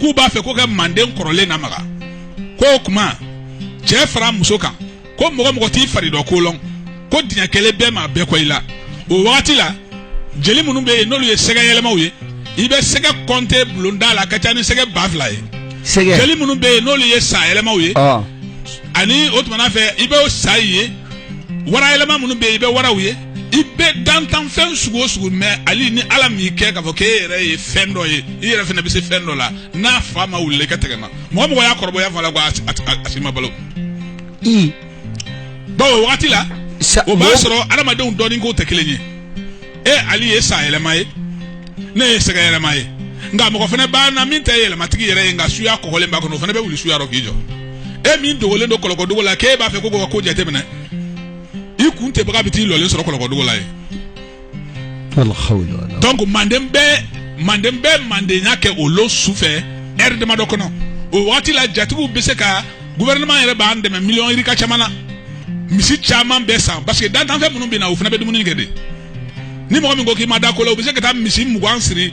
k'u b'a fɛ ko ka manden kɔrɔlen namaga ko o tuma cɛ fara muso kan ko mɔgɔ o mɔgɔ t'i fari dɔ ko lɔn ko diɲɛ kelen bɛɛ maa bɛɛ kɔ i la o wagati la jeli minnu bɛ yen n'olu ye sɛgɛ yɛlɛmaw ye i bɛ sɛgɛ kɔnte bulonda la ka ca ni sɛgɛ ba fila ye sɛgɛ jeli minnu bɛ yen n'olu ye sa yɛlɛmaw ye ani o tuma fɛ i bɛ sa ye wara yɛlɛma minnu bɛ yen i bɛ waraw ye i bɛ dantanfɛn sugu o sugu mɛn hali ni ala m'i kɛ k'a fɔ k'e yɛrɛ ye fɛn dɔ ye i yɛrɛ fana bɛ se fɛn dɔ la n'a fa ma wuli ka tɛgɛ ma mɔgɔ mɔgɔ y'a kɔrɔbɔya fa la ko a si ma balo bawo waati la o b'a sɔrɔ adamadenw dɔnni ko tɛ kelen ye e ali ye sa yɛlɛma ye ne ye sɛgɛ yɛlɛma ye nka mɔgɔ fana b'a na min tɛ yɛlɛmatigi yɛrɛ ye nka suya kɔgɔlen b'a kɔnɔ o fana bɛ wuli suya rɔ k'i jɔ e min dogolen don kɔlɔkɔdugu la k'e b'a fɛ k'u ka ko jateminɛ i kun tɛbaga bɛ t'i lɔlen sɔrɔ kɔlɔkɔdugu la ye donc manden bɛ manden bɛ mandenya kɛ o lon su fɛ ɛri damadɔ kɔnɔ o waati la jatigiw bɛ se ka gouvernement yɛrɛ b'an dɛmɛ miliyɔn yirika caman na misi caman bɛ san parce que dantanfɛn minnu bɛ na o fana bɛ dumuni kɛ de ni mɔgɔ min ko k'i ma da ko la u bɛ se ka taa misi mugan siri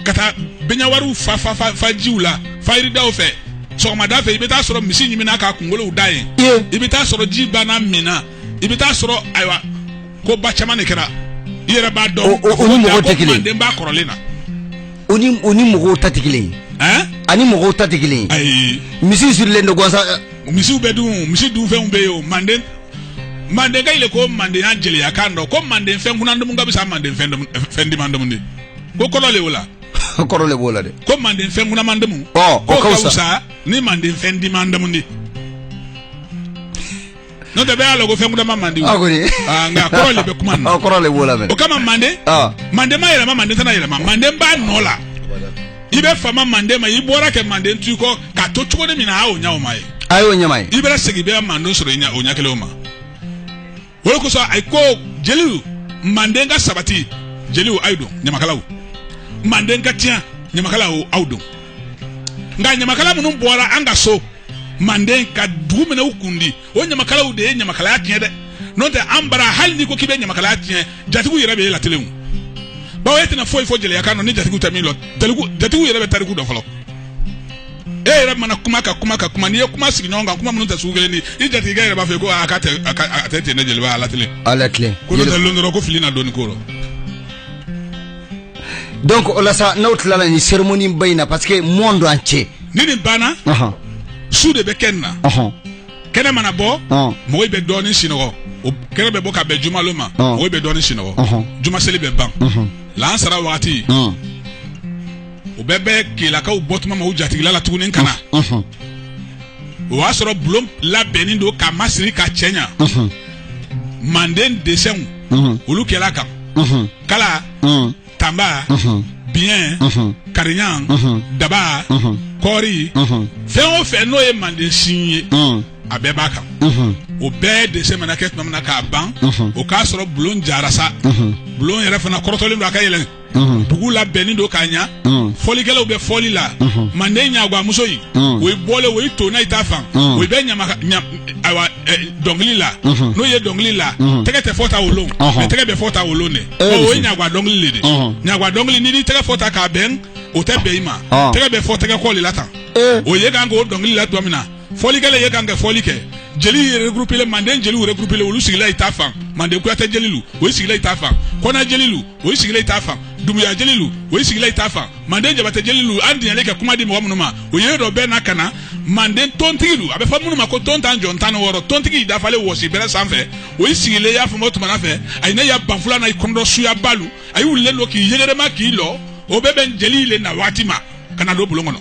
ka taa bɛnɲawariw fa fa fa fa jiw la fajiridaw fɛ sɔgɔmada fɛ i bɛ taa sɔrɔ misi ɲiminna k'a kunkolow da yen i bɛ taa sɔrɔ ji banna min na i bɛ taa sɔrɔ ayiwa ko ba caman de kɛra i yɛrɛ b'a dɔn O- o- o ni mɔgɔw tɛ kelen ye. manden b'a kɔrɔlen na o ni o ni mɔgɔw ta tɛ kelen ye ɛn ani mɔgɔw ta tɛ kelen ye ayi misi sirilen don gansan misiw bɛ dun misi dunfɛnw bɛ yen o manden mandenka ile ko mandenya jeliya kan dɔ ko manden fɛn kunan dumu ka fisa manden fɛn dumu- fɛn diman dumu di ko kɔrɔ le o la kɔrɔ le b'o la dɛ ko manden fɛn kunaman dumu Ɔ, o ko ka ka wusa. wusa ni manden fɛn diman dumu di n'o tɛ bɛɛ y'a lɔn ko fɛn kunaman man di o. a kɔni Ah, nka kɔrɔ le bɛ kuma nin na. Ɔ, kɔrɔ le b'o la mɛ o kama manden Ah. manden ma yɛlɛma manden tɛna yɛlɛma manden b'a nɔ la i bɛ fama manden ma i bɔra ka manden to i kɔ k'a to cogo min na a y'o ɲɛ o ma ye a y'o ɲɛma ye i bɛ segin bɛ manden sɔrɔ o ɲɛ kelen ma o de kosɔn a ko jeliw manden ka sabati jeliw aw don ɲamakalaw manden ka tiɲɛ ɲamakalaw aw don nka ɲamakala minnu bɔra an ka so manden ka dugu minɛ u kundi o ɲamakalaw de ye ɲamakalaya tiɲɛ dɛ n'o tɛ an bara hali n'i ko k'i bɛ ɲamakalaya tiɲɛ jatigiw yɛrɛ bɛ e latelen bawo e tɛna foyi fɔ jeliya kan ni jatigiw tɛ min lɔn jatigiw yɛrɛ bɛ tariku dɔ fɔlɔ e yɛrɛ mana kuma ka kuma ka kuma n'i ye kuma sigi ɲɔgɔn kan kuma minnu tɛ sugu kelen ni i jatigikɛ yɛrɛ b'a fɔ ko a ka tɛ a tɛ ten ne jeliba a latilen a latilen ko n'o tɛ lon dɔrɔn ko fili na dɔɔni ko rɔ donc o la sa n'aw tilala nin cérémonie ba in na parce que monde entier ni nin banna su de bɛ kɛ nin na kɛnɛ mana bɔ mɔgɔw bɛ dɔɔnin sinɔgɔ o kɛnɛ bɛ bɔ ka bɛn jumalon ma mɔgɔw bɛ dɔɔnin sinɔgɔ juma seli bɛ ban lansara waati u bɛɛ bɛ kelakaw bɔ tuma ma u jatigila la tuguni ka na o y'a sɔrɔ bulon labɛnnen don ka masiri ka cɛ ɲɛ manden desɛnw olu kɛra kan kala tanba biɲɛ kariɲa daba kɔɔri fɛn o fɛn n'o ye manden sin ye a bɛɛ b'a kan o bɛɛ desɛn mana kɛ tuma min na k'a ban o k'a sɔrɔ bulon jara sa bulon yɛrɛ fana kɔrɔtɔlen don a ka yɛlɛ bugu labɛnnen don k'a ɲa fɔlikɛlaw bɛ fɔli la manden ɲagwamuso in o ye bɔlen o ye tonna i ta fan o bɛ ɲagwa ayiwa dɔnkili la n'o ye dɔnkili la tɛgɛ tɛ fɔ tan o rɔ mɛ tɛgɛ bɛ fɔ tan o rɔ de o ye ɲagwa dɔnkili le di ɲagwa dɔnkili n'i tɛgɛ fɔ tan k'a bɛn o tɛ bɛn i ma tɛgɛ bɛ fɔ tɛgɛ kɔ le la tan o ye kan k'o dɔnkili la tuma min na fɔlikɛla ye kan ka fɔli kɛ jeli ye regroupélen manden jeliw regroupélen olu sigila i ta fan manden kuyatɛ jelilu o sigila i ta fan kɔnɛ jelilu o ye sigilen i ta fan dunbuya jelilu o ye sigilen i ta fan manden jabatɛ jelilu an diɲɛlen ka kuma di mɔgɔ minnu ma o ye dɔ bɛɛ na ka na manden tontigilu a bɛ fɔ minnu ma ko tontajɔn tan ni wɔɔrɔ tontigi dafalen wɔsi bɛrɛ sanfɛ o ye sigilen y'a fɔ tumana fɛ a ye ne ya banfula na i kun dɔ suyabalu a y'u wulilen don k'i yɛgɛrɛma k'i lɔ o bɛ bɛn jeli le na waati ma ka na don bulon kɔnɔ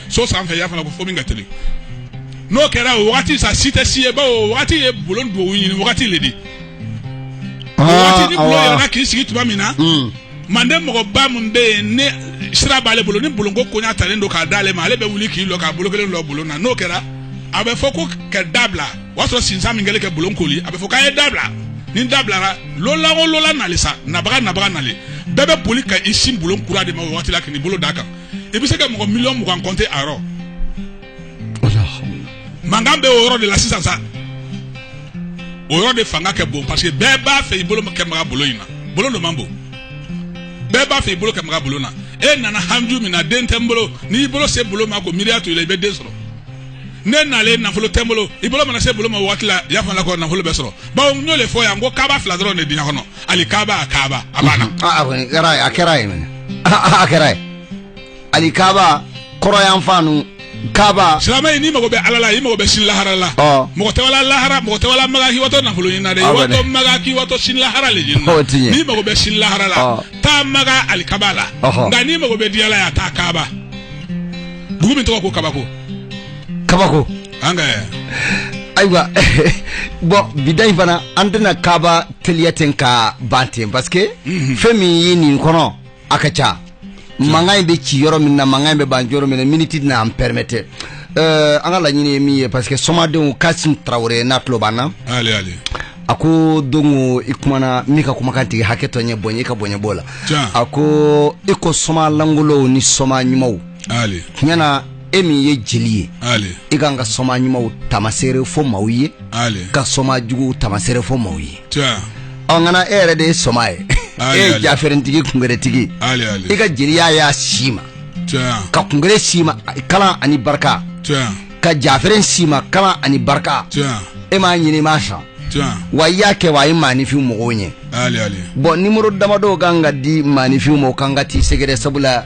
so sanfɛ y'a fana ko fo min ka teli n'o kɛra o wagati sa si tɛ si ye bawo o wagati ye bulon don o ɲini wagati le de o wagati ni bulon yɛlɛna k'i sigi tuma min na manden mɔgɔba min bɛ yen ni sira b'ale bolo ni bulonko koɲa talen don k'a d'ale ma ale bɛ wuli k'i lɔ k'a bolo kelen lɔ bulon na n'o kɛra a bɛ fɔ ko ka da bila o y'a sɔrɔ sinsan min kɛlen ka bulon koori a bɛ fɔ k'a ye da bila ni da bilara lolan o lolan nalen sa nabaga nabaga nalen bɛɛ bɛ boli ka i sin bulon kura de ma o waati la k'i bolo d'a kan i bɛ se ka mɔgɔ miliyɔn mugan kɔnte a yɔrɔ mankan bɛ o yɔrɔ de la sisan sa o yɔrɔ de fanga ka bon parce que bɛɛ b'a fɛ i bolo ka maga bulon in na bulon dun man bon bɛɛ b'a fɛ i bolo ka maga bulon na e nana haju min na den tɛ n bolo n'i bolo se bulon ma ko miiriya t'o la i bɛ den sɔrɔ ne nalen nafolo tɛ n bolo i bolo mana se bulon ma waati la i y'a fɔ la ko nafolo bɛ sɔrɔ bawo n y'o de fɔ yan ko kaba fila dɔrɔn de diɲɛ kɔnɔ alikaba a kaba a banna a a kɔni kɛra ye a kɛra ye mɛnɛ a kɛra ye alikaba kɔrɔn yan fan nu kaba silama ye n'i mago bɛ ala la i mago bɛ sini lahara la Ɔ. mɔgɔ tɛ wala lahara mɔgɔ tɛ wala maga k'i watɔ nafolo ɲini na dɛ i Awɔ dɛ. watɔ maga k'i watɔ sini lahara le ɲini Ɔ, o ti ɲɛ. n'i mago bɛ sini lahara la Ɔ. taa maga alikaba la Ɔhɔ. nka n'i mago bɛ diɲɛ la yan taa kaba dugu min tɔgɔ ko kabako kabako an ka ayiwa bon bi ta in fana an tɛna kaba teliya ten ka ban ten parce que mhm. fɛn min ye nin kɔnɔ a ka ca mankan in bɛ ci yɔrɔ min na mankan in bɛ ban yɔrɔ min na miniti na an pɛrɛmɛtɛ eh, an ka laɲini ye min ye parce que somadenw kasim tarawele n'a tulo b'an na a ko don i kumana min ka kumakan tigi hakɛ to n ye bon i ka bonya b'o la a ko i ko soma lankolonw ni soma ɲumanw tiɲɛna e min ye jeli ye i ka kan ka soma ɲumanw tamasere fɔ maaw ye ka soma jugu tamasere fɔ maaw ye ɔ kana e yɛrɛ de ye soma ye e ye jafɛrɛntigi kunɛrɛtigi i ka jeliya y'a si ma ka kunɛrɛ si ma kalan ani barika ka jafɛ si ma kalan ani barika e m'a ɲini ma sa wa i y'a kɛ wa a ye maaninfin mɔgɔw ɲɛ bɔn numéro damadɔ ka kan ka di maaninfin ma ka kan ka taa i sɛgɛrɛ sabu la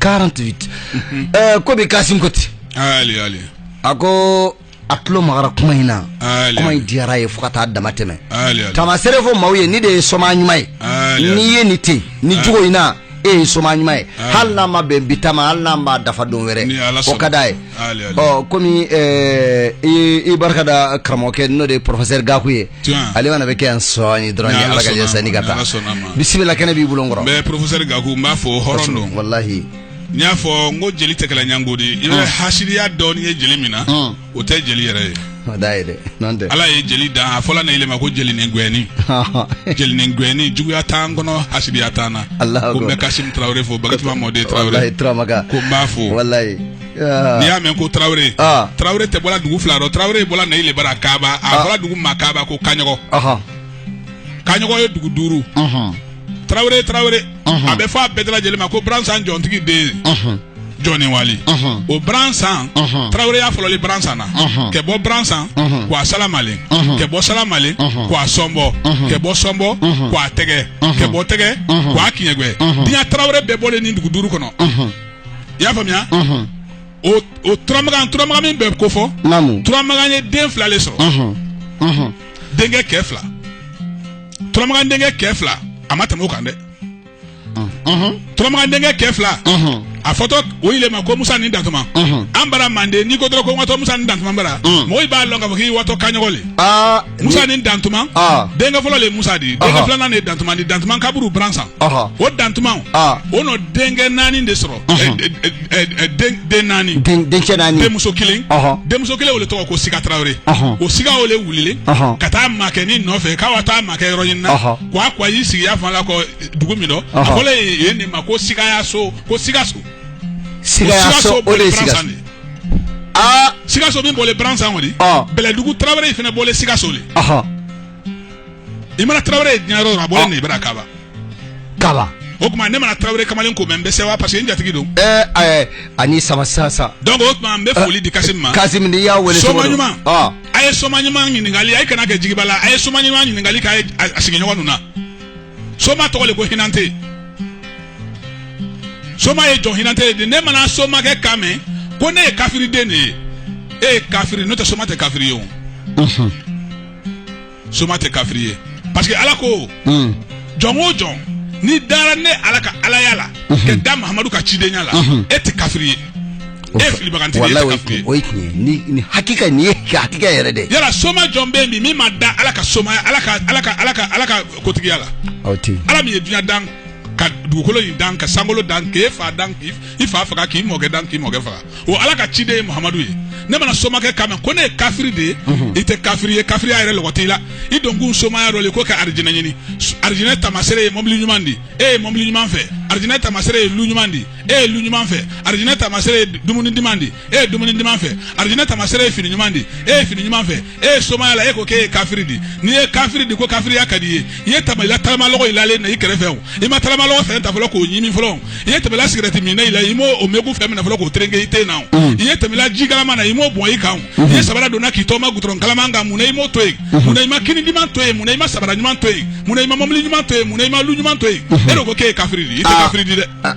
48 ɛɛ ko bɛn kasim ko ten ali ali a ko a tulo magara kuma in na ali kuma in diyara a ye fo ka taa dama tɛmɛ ali ali tamasere fɔ maaw ye nin de ye soma ɲuman ye ali n'i ali ye nin ten ni jogo in na e ye soma ɲuman ye hali n'a ma bɛn bi ta ma hali n'a ma dafa don wɛrɛ Ni Ala o sɔnna. ka d'a ye ɔ komi eh, i barika da karamɔgɔkɛ n'o de ye professeur gaku ye ale fana bɛ kɛ yan sɔɔni dɔrɔn ye ala ka jɛ sani ka taa bisimila kɛnɛ b'i bolo n kɔrɔ mais professeur gaku n b'a fo hɔrɔn don walahi n y'a fɔ n ko jeli tɛ kɛla ɲango di i bɛ hasidiya dɔɔni ye jeli min na o tɛ jeli yɛrɛ ye ala ye jeli dan a fɔla ne yi le ma ko jeli ni gɛni jeli ni gɛni juguya t'an kɔnɔ hasidiya t'an na ko bɛn kasim tarawele fo baka mɔden tarawele ko n b'a fo n'i y'a mɛn ko tarawele tarawele tɛ bɔla dugu fila dɔ tarawele bɔla ne yi le bara kaba a fɔla dugu ma kaba ko kaɲɔgɔn kaɲɔgɔn ye dugu duuru tarawele tarawele a bɛ fɔ a bɛɛ lajɛlen ma ko bransan jɔntigi den jɔni wali o bransan taraweleya fɔlɔlen bransan na kɛ bɔ bransan ka wa salamalen kɛ bɔ salamalen ka wa sɔnbɔ kɛ bɔ sɔnbɔ ka wa tɛgɛ kɛ bɔ tɛgɛ ka wa kiɲɛgwɛ diɲɛ tarawele bɛɛ bɔlen nin dugu duuru kɔnɔ i y'a faamuya o o turamagan turamagan min bɛ kofɔ turamagan ye den fila de sɔrɔ denkɛ kɛ fila turamagan denkɛ kɛ fila a ma tɛmɛ o kan dɛ turamagan denkɛ kɛ fila a fɔtɔ o yi le ma ko musa ni dantuma an bara manden n'i ko dɔrɔn ko n watɔ musa ni dantuma bara mɔgɔ b'a lɔn ka fɔ k'i watɔ kaɲɔgɔn le musa ni dantuma denkɛ fɔlɔ le musa di denkɛ filanan de dantuma di dantuma kaburu bransan o dantuma o nɔ denkɛ naani de sɔrɔ den naani denkɛ naani denmuso kelen denmuso kelen o le tɔgɔ ko siga tarawele o siga o le wulilen ka taa makɛ ni nɔfɛ ka wa taa makɛ yɔrɔ ɲini na ko a ko a y'i sigiya fan la kɔ dugu min dɔ a fɔ ye nin ma ko siga ya so ko sigaso sigaso o de ye sigaso aa sigaso min bɔlen bransan kɔni bɛlɛdugu tarawele in fana bɔlen sigaso de i mana tarawele ye diɲɛ yɔrɔ a bɔlen nin bara kaba kaba o tuma ne mana tarawele kamalen ko mɛn n bɛ sɛwa parce que n jatigi don ɛɛ ɛɛ ani sama sansa donc o tuma n bɛ foli di kasi ma kasi min y'a wele soma ɲuman a ye soma ɲuman ɲininkali a ye kana kɛ jigiba la a ye soma ɲuman ɲininkali k'a ye a sigiɲɔgɔn ninnu na soma tɔgɔ de ko hinante soma ye jɔn hinante de ne mana somakɛ kan mɛn ko ne ye kafiriden de ye e ye kafiri n'o tɛ soma tɛ kafiri ye o soma tɛ kafiri ye parce que ala ko hmm. jɔn o jɔn ni dara ne ala ka alaya la mhm. ka da mahamadu ka cidenya la mhm. e tɛ kafiri ye e filibaganci ye kafiri o ye tiɲɛ ye ni ni hakika nin ye hakika yɛrɛ dɛ yala soma jɔn bɛ yen bi min ma da ala ka somaya ala ka ala ka ala ka ala ka kotigiya la aw tɛ ala min ye dunya dan ka dugukolo in dan ka sankolo dan k'e fa dan k'i fa faga k'i mɔkɛ dan k'i mɔkɛ faga o ala ka ciden ye mahamadu ye ne mana somakɛ kan mɛn ko ne ye kafiri de ye i tɛ kafiri ye kafiriya yɛrɛ lɔgɔ t'i la i don kun somaya dɔ le ko ka arijinɛ ɲini arijinɛ tamasere ye mɔbili ɲuman di e ye mɔbili ɲuman fɛ arijinɛ tamasere ye lu ɲuman di e ye lu ɲuman fɛ arijinɛ tamasere ye dumuni duman di e ye dumuni duman fɛ arijinɛ tamasere ye fini ɲuman di e ye fini ɲuman fɛ e ye somaya la e ko k'e ye kafiri di n'i ye kafiri di ko kafiriya ka d'i ye i ye tɛmɛla tagamalɔgɔ i lalen na i kɛrɛfɛ o i ma tagamalɔgɔ fɛn ta fɔlɔ k'o ɲimi fɔlɔ i ye tɛmɛla sigɛrɛti minna la i m'o o megu fɛn minɛ fɔlɔ k'o tereke i ten na o mm. i ye tɛmɛla ji kalaman na i m'o bɔn i kan o mm-hmm. i ye sabara donna k'i taama gudɔrɔn kalaman kan mun na i m'o to yen mm-hmm. mun na i ma kini ɲuman to yen mun na i ma sabara ɲuman to yen mun na i ma mɔbili ɲuman to yen mun na i ma lu ɲuman to yen mm-hmm. e de ko k'e ye kafiri di i tɛ ah. kafiri di dɛ ah.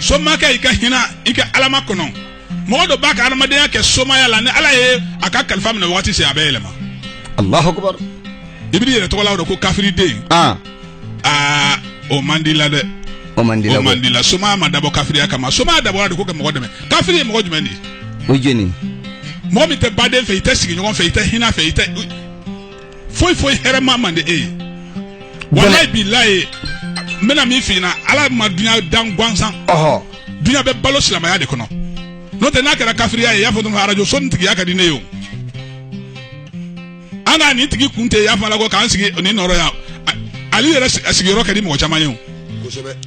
somakɛ i ka hinɛ i ka ala makɔnɔ mɔgɔ dɔ b'a ka adamadenya kɛ somaya la ni ala ye a ka kalifa minɛ waati se a bɛ yɛlɛma alahu akubar i b'i yɛrɛ tɔgɔla o ko kafiriden aa aa o man di la dɛ o man di la o man di la somaya ma dabɔ kafiriya kama somaya dabɔra de ko ka mɔgɔ dɛmɛ kafiri ye mɔgɔ jumɛn de ye o jeni mɔgɔ min tɛ baden fɛ i tɛ sigiɲɔgɔn fɛ i tɛ hinɛ fɛ i tɛ foyi foyi hɛrɛma man di e ye walayi bilayi n bɛna min f'i ala ma dunya dan gansan dunya bɛ balo silamɛya de kɔnɔ n'o tɛ n'a kɛra kafiriya ye i y'a fɔ dɔrɔn arajo so nin tigiya ka di ne ye o an ka nin tigi kun tɛ y'a fɔ ala ko k'an sigi nin nɔrɔ yan ale yɛrɛ sigiyɔrɔ ka di mɔgɔ caman ye o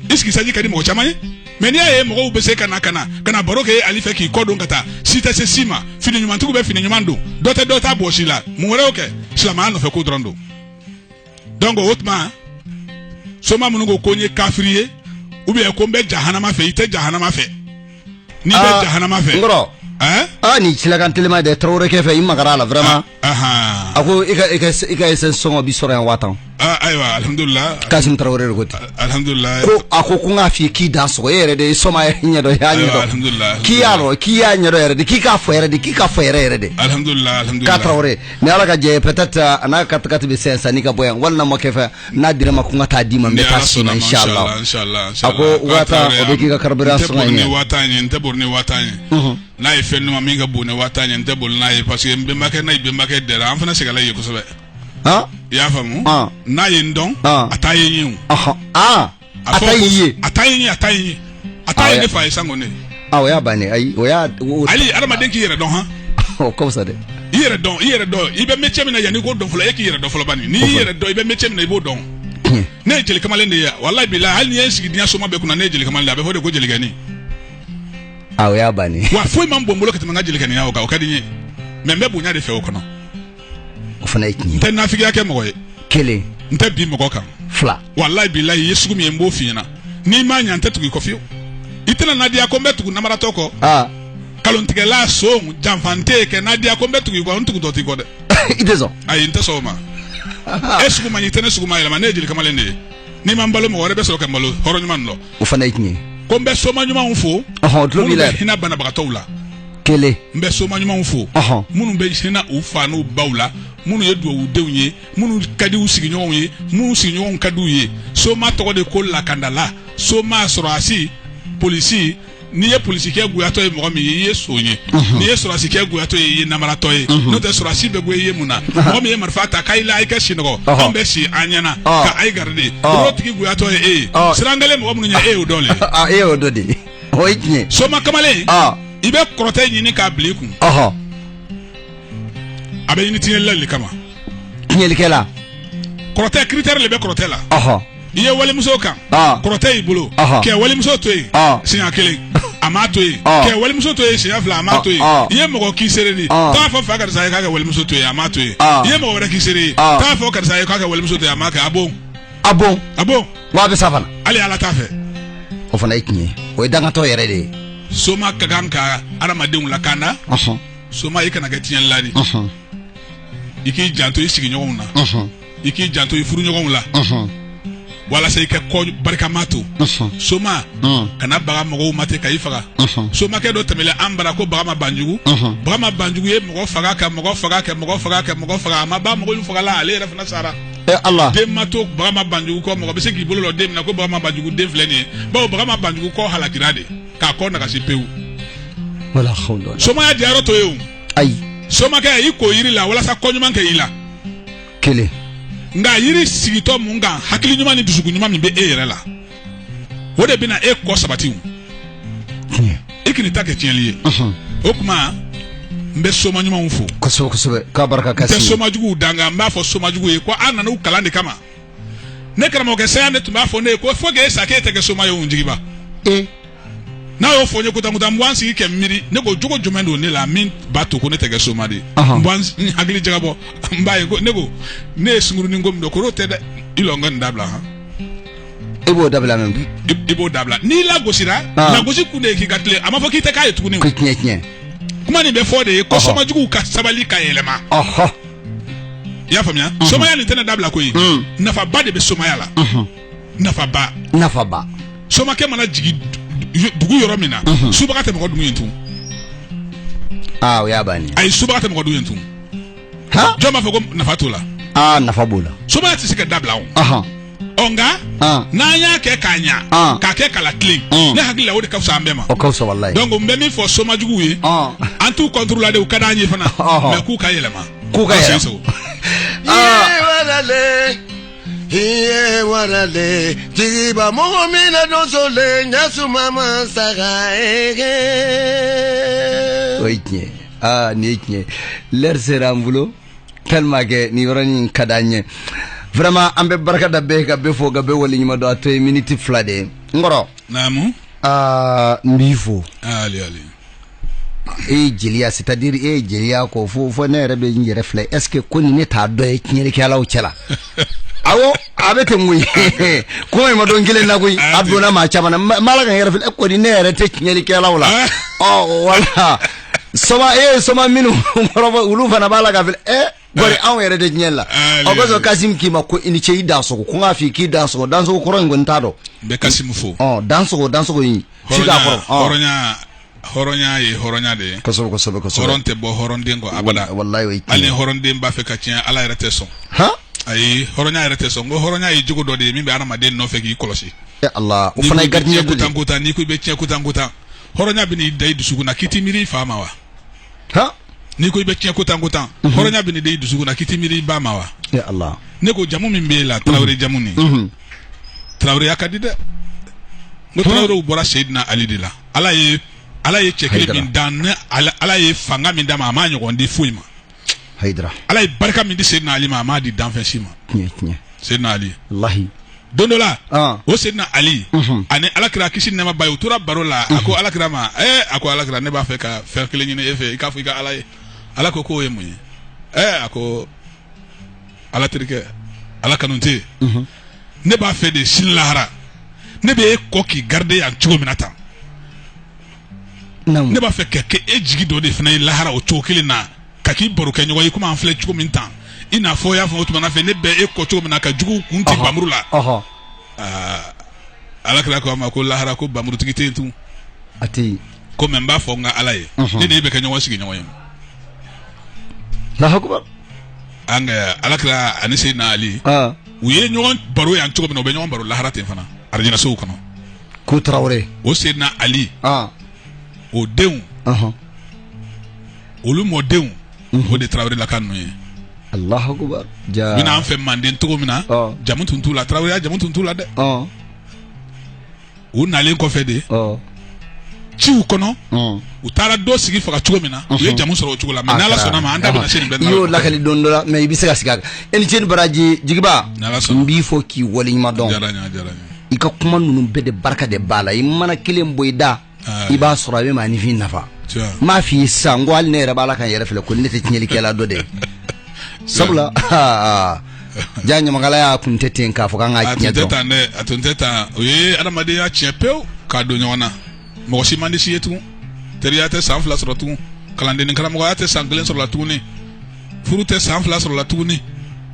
i sigisɛsi ka di mɔgɔ caman ye mais n'i y'a ye mɔgɔw bɛ se ka na ka na ka na baro kɛ ale fɛ k'i kɔ don ka taa si tɛ se si ma fini ɲumantigiw bɛ fini ɲuman don dɔ tɛ dɔ ta bɔsi la mun wɛrɛ y'o kɛ silamɛya nɔfɛ ko dɔrɔn don donc o tuma soma minnu ko ko n ye kafiri ye ou bien ko n bɛ jahanama fɛ i tɛ jahanama fɛ n'i bɛ ah, jahanama fɛ nkɔrɔ ɛɛ aa ah, nin silakan telima dɛ tarawele kɛ fɛ i magara a la vraiment ah. a ko i ka esansi sɔngɔ bɛ sɔrɔ yan waa tan ayiwa alihamudulila kasimu tarawele wɛrɛ de ko hamidula a ko ko n k'a fɔ k'i dansɔgɔ e yɛrɛ de ye soma ɲɛdɔn k'i y'a dɔn k'i y'a ɲɛdɔn yɛrɛ de k'i k'a fɔ yɛrɛ de k'i ka fɔ yɛrɛ yɛrɛ de k'a tarawele ni ala ka jɛ peut-être a n'a ka katikati bɛ sɛn san n'i ka bɔ yan walima ma kɛ fɛ n'a dira n ma ko n ka taa d'i ma n bɛ taa si a ko waa tan o bɛ k'i ka kari sɔrɔ n'a ye fɛn ɲuman min ka bon ni waa tan ye n tɛ boli n'a ye parce que n bɛnbakɛ n'a ye bɛnbakɛ dɛra an fana sɛgɛnla ye kosɛbɛ Han? i y'a faamu Ah. n'a ye n dɔn Ah. a t'a ye n ye o Ɔhɔ. Aa, a fɔ ta ko- y'i ye. a t'a ye n ye a t'a ye n ye a t'a Ah, ye ya- ne fa ye sango ne Aa, o y'a bannen. Ayi, o y'a- o- ali adamaden k'i yɛrɛ dɔn han o ka fisa dɛ. i yɛrɛ dɔn i yɛrɛ dɔn i bɛ métier min na yanni i k'o dɔn fɔlɔ e k'i yɛrɛ dɔn fɔlɔ bani n'i y'i yɛrɛ dɔn i bɛ métier min na i b'o dɔn ne ye jeli kamalen de ye walayi bilahi hali n'i ye n sigi diɲɛ soma bɛɛ kunna ne ye jeli kamalen de ye a bɛ fɔ de ko jelikɛni a o y'a bannen wa foyi man bon n bolo ka tɛmɛ n ka jelikɛninya o kan o ka di n ye mais n bɛ bonya de fɛ o kɔnɔ o fana ye tiɲɛ n tɛ nafigiya kɛ mɔgɔ ye kelen n tɛ bin mɔgɔ kan fila walayi bilayi i ye sugu min ye n b'o f'i ɲɛna n'i ma ɲɛ n tɛ tugu i kɔ fiyewu i tɛna nadiya ko n bɛ tugu namaratɔ kɔ aa kalontigɛla son janfan tɛ kɛ nadiya ko n bɛ tugu i kɔ n tugutɔ t'i kɔ dɛ i tɛ sɔn ayi n tɛ sɔn o ma e sugu man ɲi i tɛ ne sugu mayɛlɛma ne ye jeli kamalen de ye n'i ma n balo mɔgɔ wɛrɛ bɛ sɔrɔ ka n balo hɔrɔn ɲuman dɔ o fana ye tiɲɛ ko n bɛ soma ɲumanw fo ɔhɔn tulo b'i la minnu bɛ hinɛ banabagatɔw la kelen n bɛ soma ɲumanw fo ɔhɔn minnu bɛ hinɛ u fa n'u baw la minnu ye dugawudenw ye minnu ka di u sigiɲɔgɔnw ye minnu sigiɲɔgɔnw ka di u ye soma tɔgɔ de ko lakandala soma sɔrɔdasi polisi n'i ye polisikɛ goyatɔ ye mɔgɔ min ye i ye son ye n'i ye sɔrɔdasikɛ goyatɔ ye i ye namaratɔ ye n'o tɛ sɔrɔdasi bɛ goya i ye mun na mɔgɔ min ye marifa ta k'a la i ka sinɔgɔ anw bɛ si an ɲɛna ka a ye garidi o tigi goyatɔ ye e ye siran kelen mɔgɔ minnu ye e y'o dɔn e y'o dɔn de o ye tiɲɛ soma kamalen i bɛ kɔrɔtɛ ɲini k'a bila i kun a bɛ ɲini tiɲɛlila de kama tiɲɛlikɛla kɔrɔtɛ critère de bɛ kɔrɔtɛ la i ye walimuso kan ah. kɔrɔtɛ y'i bolo kɛ walimuso to yen ah. siɲɛ kelen a m'a to yen ah. kɛ walimuso to yen siɲɛ fila a m'a to yen i ye mɔgɔ k'i seere di t'a fɔ fa karisa ye k'a ka walimuso to yen a m'a to yen i ye mɔgɔ wɛrɛ k'i seere ye t'a fɔ karisa ye k'a ka walimuso to yen a m'a kɛ a bon a bon a bon wa a bɛ sa fana hali ala t'a fɛ o fana ye tiɲɛ ye o ye dangatɔ yɛrɛ de ye soma ka kan ka adamadenw lakanda soma i kana kɛ tiɲɛlila di i k'i janto i sigiɲɔgɔnw na i k'i janto i furuɲɔgɔnw la walasa i ka kɔ barikama to soma kana baga mɔgɔw ma ten ka i faga somakɛ dɔ tɛmɛlen an bara ko bagama banjugu bagama banjugu ye mɔgɔ faga ka mɔgɔ faga ka mɔgɔ faga ka mɔgɔ faga a ma ban mɔgɔ faga la ale yɛrɛ fana sara hali den ma to bagama banjugu kɔ mɔgɔ bɛ se k'i bolo lɔ den min na ko bagama banjugu den filɛ nin ye bawo bagama banjugu kɔ halakira de k'a kɔ nagasi pewu somaya diyarɔ to ye ayi somakɛ i ko yiri la walasa ko ɲuman kɛ i la kelen nka yiri sigitɔ mun kan hakili ɲuman ni dusukun ɲuman min bɛ e yɛrɛ la o de bɛna e kɔ sabati i kan'i ta kɛ tiɲɛli ye o tuma n bɛ soma ɲumanw fo kosɛbɛ kosɛbɛ k'a barika kasi n tɛ soma juguw danga n b'a fɔ soma juguw ye ko an nana u kalan de kama ne karamɔgɔkɛ saya ne tun b'a fɔ ne ye ko fo k'e sa k'e tɛ kɛ soma ye o jigiba e n'a y'o fɔ n ye ko tan ko tan n bɛ n sigi ka miiri ne ko jogo jumɛn don ne la min b'a to ko ne tɛ kɛ soma de ye n bɛ n s- n hakili jagabɔ n b'a ye ko ne ko ne ye sunkurunin ko min dɔn k'o tɛ dɛ i lɔ n ka nin dabila han e b'o dabila mɛ bi i- i b'o dabila n'i lagosira Ah. lagosi kun de ye k'i ka tilen a ma fɔ k'i tɛ k'a ye tuguni o. ko tiɲɛ tiɲɛ kuma nin bɛ fɔ de ye ko Ɔhɔ. somajuguw ka sabali ka yɛlɛma ɔhɔ i y'a faamuya mhm. somaya nin tɛna dabila koyi mhm. nafaba de bɛ somaya la mhm. nafaba nafaba somakɛ mana jigin dugu yɔrɔ min na subaga tɛ mɔgɔ dun yen tun aa ah, o y'a bannen ayi subaga tɛ mɔgɔ dun yen tun jɔn b'a fɔ ko nafa t'o la aa ah, nafa b'o la somaya tɛ se ka dabila o ɔ nka Ah. n'an y'a kɛ k'a ɲa Ah. k'a kɛ k'a latilen Mm. ne hakili la o de ka fisa an bɛɛ ma o ka fisa walayi donc n bɛ min fɔ somajuguw ye Ah. an t'u contre la de u ka d'an ye fana Ɔhɔ. mais k'u ka yɛlɛma K'u ka An yɛlɛma. sɛnso. Ah. Iye warale, iye warale, jigiba mɔgɔ min na don so le, ɲɛsuma ma saga ege. o ye tiɲɛ ye aa nin ye tiɲɛ ye lɛri sera an bolo tellement que nin yɔrɔnin in ka d'an ye vraiment an bɛ barika da bɛɛ ka bɛɛ fo ka bɛɛ waleɲuman dɔn a tɔ ye miniti fila de ye n kɔrɔ naamu aa n b'i fo ali ali e ye jeliya c'est à dire e ye jeliya kɔrɔfɔ fo ne yɛrɛ bɛ n yɛrɛ filɛ est ce que ko nin ne t'a dɔ ye tiɲɛlikɛlaw cɛ la awɔ a bɛ ten koyi kuma in ma don kelen na koyi a donna maa caman na n b'a la ka n yɛrɛ filɛ ko ni ne yɛrɛ tɛ tiɲɛlikɛlaw la ɔ wala soma e soma minnu kɔrɔfɔ olu fana b'a la ka filɛ ɛ bari anw yɛrɛ de diɲɛ la o kosɔn kasim k'i ma ko i ni ce i dansogo ko n k'a f'i k'i dansogo dansogo kɔrɔ n kɔni t'a dɔn n bɛ kasim fo ɔ dansogo dansogo in f'i k'a kɔrɔ hɔrɔnya hɔrɔnya ye hɔrɔnya de ye kosɛbɛ kosɛbɛ kosɛbɛ hɔrɔn tɛ bɔ hɔrɔnden kɔ abada walayi o ye hali hɔrɔnden b'a fɛ ka tiɲɛ ala yɛrɛ tɛ sɔn han ayi hɔrɔnya yɛrɛ tɛ sɔn ko hɔrɔnya ye jogo dɔ de ye min bɛ adamaden nɔfɛ k'i kɔlɔsi ala o fana ye gardien ko tan ko tan n'i ko i bɛ tiɲɛ ko tan ko tan hɔrɔnya bɛ n'i da i dusukun na k'i t'i miiri i fa ma wa ha n'i ko i bɛ tiɲɛ ko tan ko tan mhm. hɔrɔnya bɛ n'i da i dusukun na k'i t'i miiri i ba ma wa ya Allah ne ko jamu min b'e la mhm. tarawele jamu nin mhm. taraweleya ka di dɛ n ko tarawelew bɔra Seydina Ali de la ala ye ala ye cɛ kelen min dan ne ala ye fanga min d'a ma a m'a ɲɔgɔn di foyi ma hayidara ala ye barika min di seydina ali ma a m'a di danfɛn si ma tiɲɛ tiɲɛ seydina ali lahi don dɔ la Ah. o seydina ali Mhm. ani alakira kisi ni nɛɛma b'a ye u tora baro la a ko alakira ma ɛɛ a ko alakira ne b'a fɛ ka fɛn kelen ɲini e fɛ i k'a fɔ i ka ala ye ala ko k'o ye mun ye ɛɛ a ko ala terikɛ ala kanu tɛ yen ne b'a fɛ de sini lahara ne bɛ e kɔ k'i garide yan cogo min na tan ne b'a fɛ ka kɛ e jigi dɔ de fana ye lahara o cogo kelen na ka k'i barokɛɲɔgɔn ye komi an filɛ cogo min tan i n'a fɔ y'a fɔ o tuma fɛ ne bɛ e kɔ cogo min na ka jugu kun ti bamuru la ala kira ko a ma ko lahara ko bamurutigi tɛ tun a tɛ ko mɛ n b'a fɔ n ka ala ye ne de bɛ kɛ ɲɔgɔn sigiɲɔgɔn ye an ala kira ani seydina ali u ye ɲɔgɔn baro yan cogo min na u bɛ ɲɔgɔn baro lahara ten fana arijinasow kɔnɔ ko tarawele o seydina ali ah. o denw uh -huh. olu mɔdenw mm -hmm. o de tarawelelaka ninnu ye alahu akubar ja bɛ na an fɛ manden cogo min na uh. jamu tun t'u la taraweleya jamu tun t'u la dɛ uh. u nalen kɔfɛ de ciw kɔnɔ u taara dɔ sigi faga cogo min na u ye jamu sɔrɔ o cogo la mɛ n'ala sɔnna a ma an da bɛna se nin bɛɛ i y'o lakali don dɔ la mɛ i bɛ se ka sigi a kan e ni ce ni baraji jigiba n b'i fɔ k'i waleɲuman dɔn i ka kuma ninnu bɛɛ de barika de b'a la i mana kelen bɔ i da i b'a sɔrɔ a bɛ maaninfin nafa n b'a f'i ye sisan ko hali ne yɛrɛ b'a la ka n yɛrɛ filɛ ko ne tɛ tiɲɛlikɛla dɔ dɛ sabula ja ɲamakalaya kun tɛ ten k'a fɔ k'an ka tiɲɛ dɔn tan dɛ a tun tɛ tan o ye adamadenya tiɲɛ pewu k'a don ɲɔgɔn na mɔgɔ si man di si ye tugun teriya tɛ san fila sɔrɔ tugun kalanden ni karamɔgɔya tɛ san kelen sɔrɔla tuguni furu tɛ san fila sɔrɔla tuguni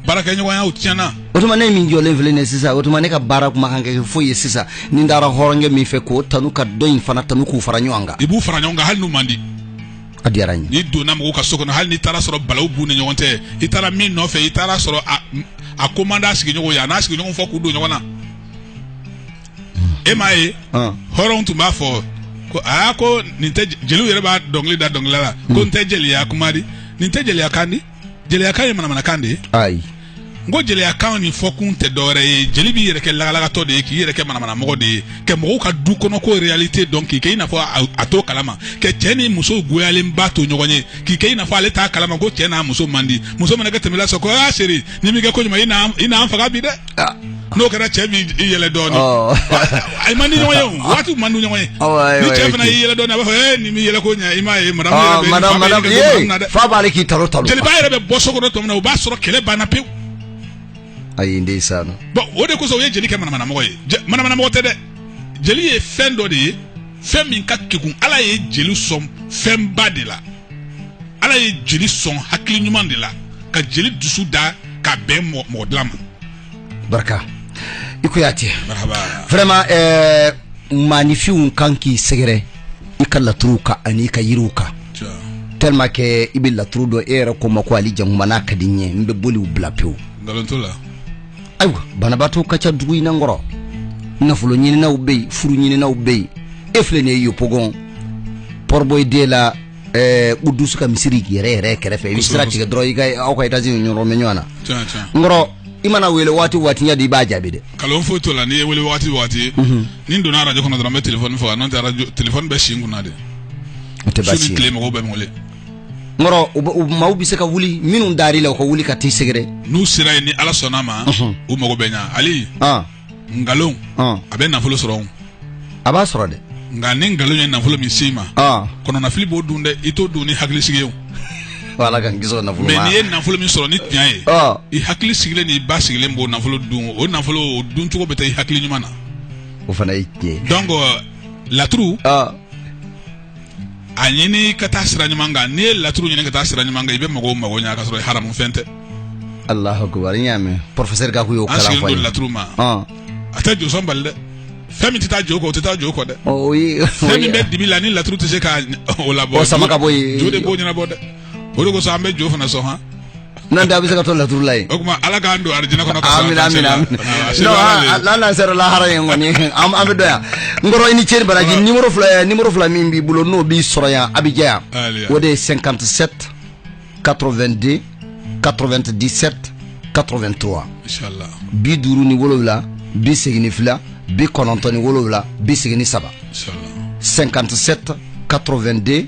baarakɛɲɔgɔnyaw tiɲɛna o tuma ne min jɔlen filɛ nin ye sisan o tuma ne ka baara kun man kan ka kɛ foyi ye sisan ni n taara hɔrɔnkɛ min fɛ k'o tanu ka dɔ in fana tanu k'u fara ɲɔgɔn kan i b'u fara ɲɔgɔn kan hali n'u man di A diyara n ye. N'i donna mɔgɔw ka so kɔnɔ hali n'i taara sɔrɔ balawu b'u ni ɲɔgɔn cɛ i taara min nɔfɛ i taara sɔrɔ a a ko man d'a sigiɲɔgɔnw ye a n'a sigiɲɔgɔnw fɔ k'u don ɲɔgɔn na e m'a ye Ɔn. hɔrɔnw tun b'a fɔ ko aa ko nin tɛ jeliw yɛrɛ b'a dɔnkili da dɔnkilidala la ko nin tɛ jeliya kuma di nin tɛ jeliya kan di jeliyakan ye manamanakan de ye ayi n ko jeliyakan nin fɔkun tɛ dɔwɛrɛ ye jeli b'i yɛrɛ kɛ lagalagatɔ de ye k'i yɛrɛ kɛ manamanamɔgɔ de ye ka mɔgɔw ka du kɔnɔko réalité dɔn k'i kɛ i n'a fɔ a t'o kalama ka cɛ ni muso goyalenba to ɲɔgɔn ye k'i kɛ i n'a fɔ ale t'a kalama ko cɛ n'a muso man di muso mana kɛ tɛmɛ la sɔrɔ ko aa chérie n'i m'i kɛ koɲuman i na an faga bi dɛ Ah. n'o kɛra cɛ b'i i yɛlɛ dɔɔnin Ɔ. a man di ɲɔgɔn ye o waati man di ɲɔgɔn ye Awɔ, ayiwa, ni cɛ ayiwa, fana ok. y'i yɛlɛ dɔɔnin a b'a fɔ ee n'i m'i yɛlɛ ko ɲɛ i m'a ye madamu yɛrɛ Ah, bɛ madame, fa bɛ madame, yɛlɛ ko madame na ye, dɛ. fa b'ale k'i talo talo. jeliba yɛrɛ bɛ bɔ so kɔnɔ tuma min na o b'a sɔrɔ kɛlɛ banna pewu Ayi, nden sa no. bɔn o de kosɔn o ye jeli kɛ manamanamɔgɔ ye Je- manamanamɔgɔ tɛ dɛ jeli ye fɛn dɔ de ye fɛn min ka kegun ala ye jeli sɔn fɛnba de la ala ye jeli sɔn hakili ɲuman de la ka jeli dusu da ka bɛn mɔgɔ dilan ma barika i ko y'a tiɲɛ vraiment ɛɛ maaninfinw kan k'i sɛgɛrɛ i ka laturuw kan ani i ka yiriw kan tellement que i bɛ laturu dɔn e yɛrɛ ko n ma ko ali jankuma n'a ka di n ye n bɛ boliw bila pewu nkalon t'o la ayiwa banabaatɔ ka ca dugu in na n kɔrɔ nafolo ɲininaw bɛ yen furu ɲininaw bɛ yen e filɛ nin ye yopougon port-bouët deux la ɛɛ kudusu ka misiri yɛrɛ yɛrɛ kɛrɛfɛ i bɛ sira tigɛ dɔrɔn i ka aw ka etazi nin yɔrɔ bɛ ɲɔgɔn na Tiɲɛ, tiɲɛ. n kɔrɔ i mana wele waati o waati ɲɛ di i b'a jaabi dɛ nkalon foyi t'o la n'i ye n wele waati o waati ni n donna arajo kɔnɔ dɔrɔn n bɛ telefɔni faga n'o tɛ arajo telefɔni bɛ si n kunna dɛ o tɛ su bawo su ni tile mɔgɔw bɛ n wele n kɔrɔ u bɛ- u maaw bɛ se ka wuli minnu dar'i la u ka wuli ka t'i sɛgɛrɛ n'u sera yen ni ala sɔnna ma Ɔhɔn. u mago bɛ ɲa ali ɔn nkalon ɔn a bɛ nafolo sɔrɔ o. a b'a sɔrɔ dɛ nka ni nkalon ye nafolo min s'i ma ɔn kɔnɔnafili b'o dun dɛ i t'o dun ni hakili sigi ye o. ko ala k'an kisi o nafolo mɛ ma n'i ye nafolo min sɔrɔ ni tiɲɛ ye ɔn i hakili sigilen n'i basigilen b'o nafolo dun o nafolo o dun cogo bɛ taa i hakili ɲuman na o fana ye tiɲɛ ye donc laturu ɔn a ɲini ka taa sira ɲuman kan n'i ye laturu ɲini ka taa sira ɲuman kan i bɛ mɔgɔw mago ɲɛ ka sɔrɔ haramu fɛn tɛ alahu akubar n y'a mɛn professeur gaku y'o kalan fɔ an sigilen laturu ma a tɛ josɔn bali dɛ fɛn min tɛ taa jo kɔ o tɛ taa jo kɔ dɛ fɛn min bɛ dibi la ni laturu tɛ se ka o labɔ sama ka bɔ yen jo de b'o ɲɛnabɔ dɛ o de kosɔn an bɛ jo fana sɔn han n'an tɛ a bɛ se ka to laturu la yen o tuma ala k'an don arijinɛ kɔnɔ ka amina sɔrɔ amina amina a se non b'a la an de. an n'an sera lahara yen kɔni an an b'a dɔn yan n kɔrɔ i ni ce i ni baraji nimoro fila eh, nimoro fila min b'i bolo n'o b'i sɔrɔ yan abijan yan Aliya. o de ye 57 82 97 83 Inshallah. bi duuru ni wolowula bi segin ni fila bi kɔnɔntɔn ni wolowula bi segin ni saba Inshallah. 57 82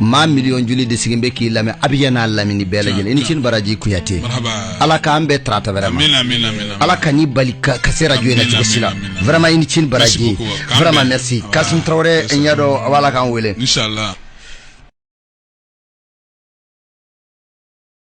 maa miliyɔn joli de sigilen bɛ k'i lamɛn abijan n'a lamini bɛɛ lajɛlen i ni ce i ni baraji kuyate ala k'an bɛn tarata wɛrɛ ma ala kan'i bali ka se rajo na cogo si la vraiment i ni ce i ni baraji vraiment merci kasum tarawele n y'a dɔn a b'a la k'an wele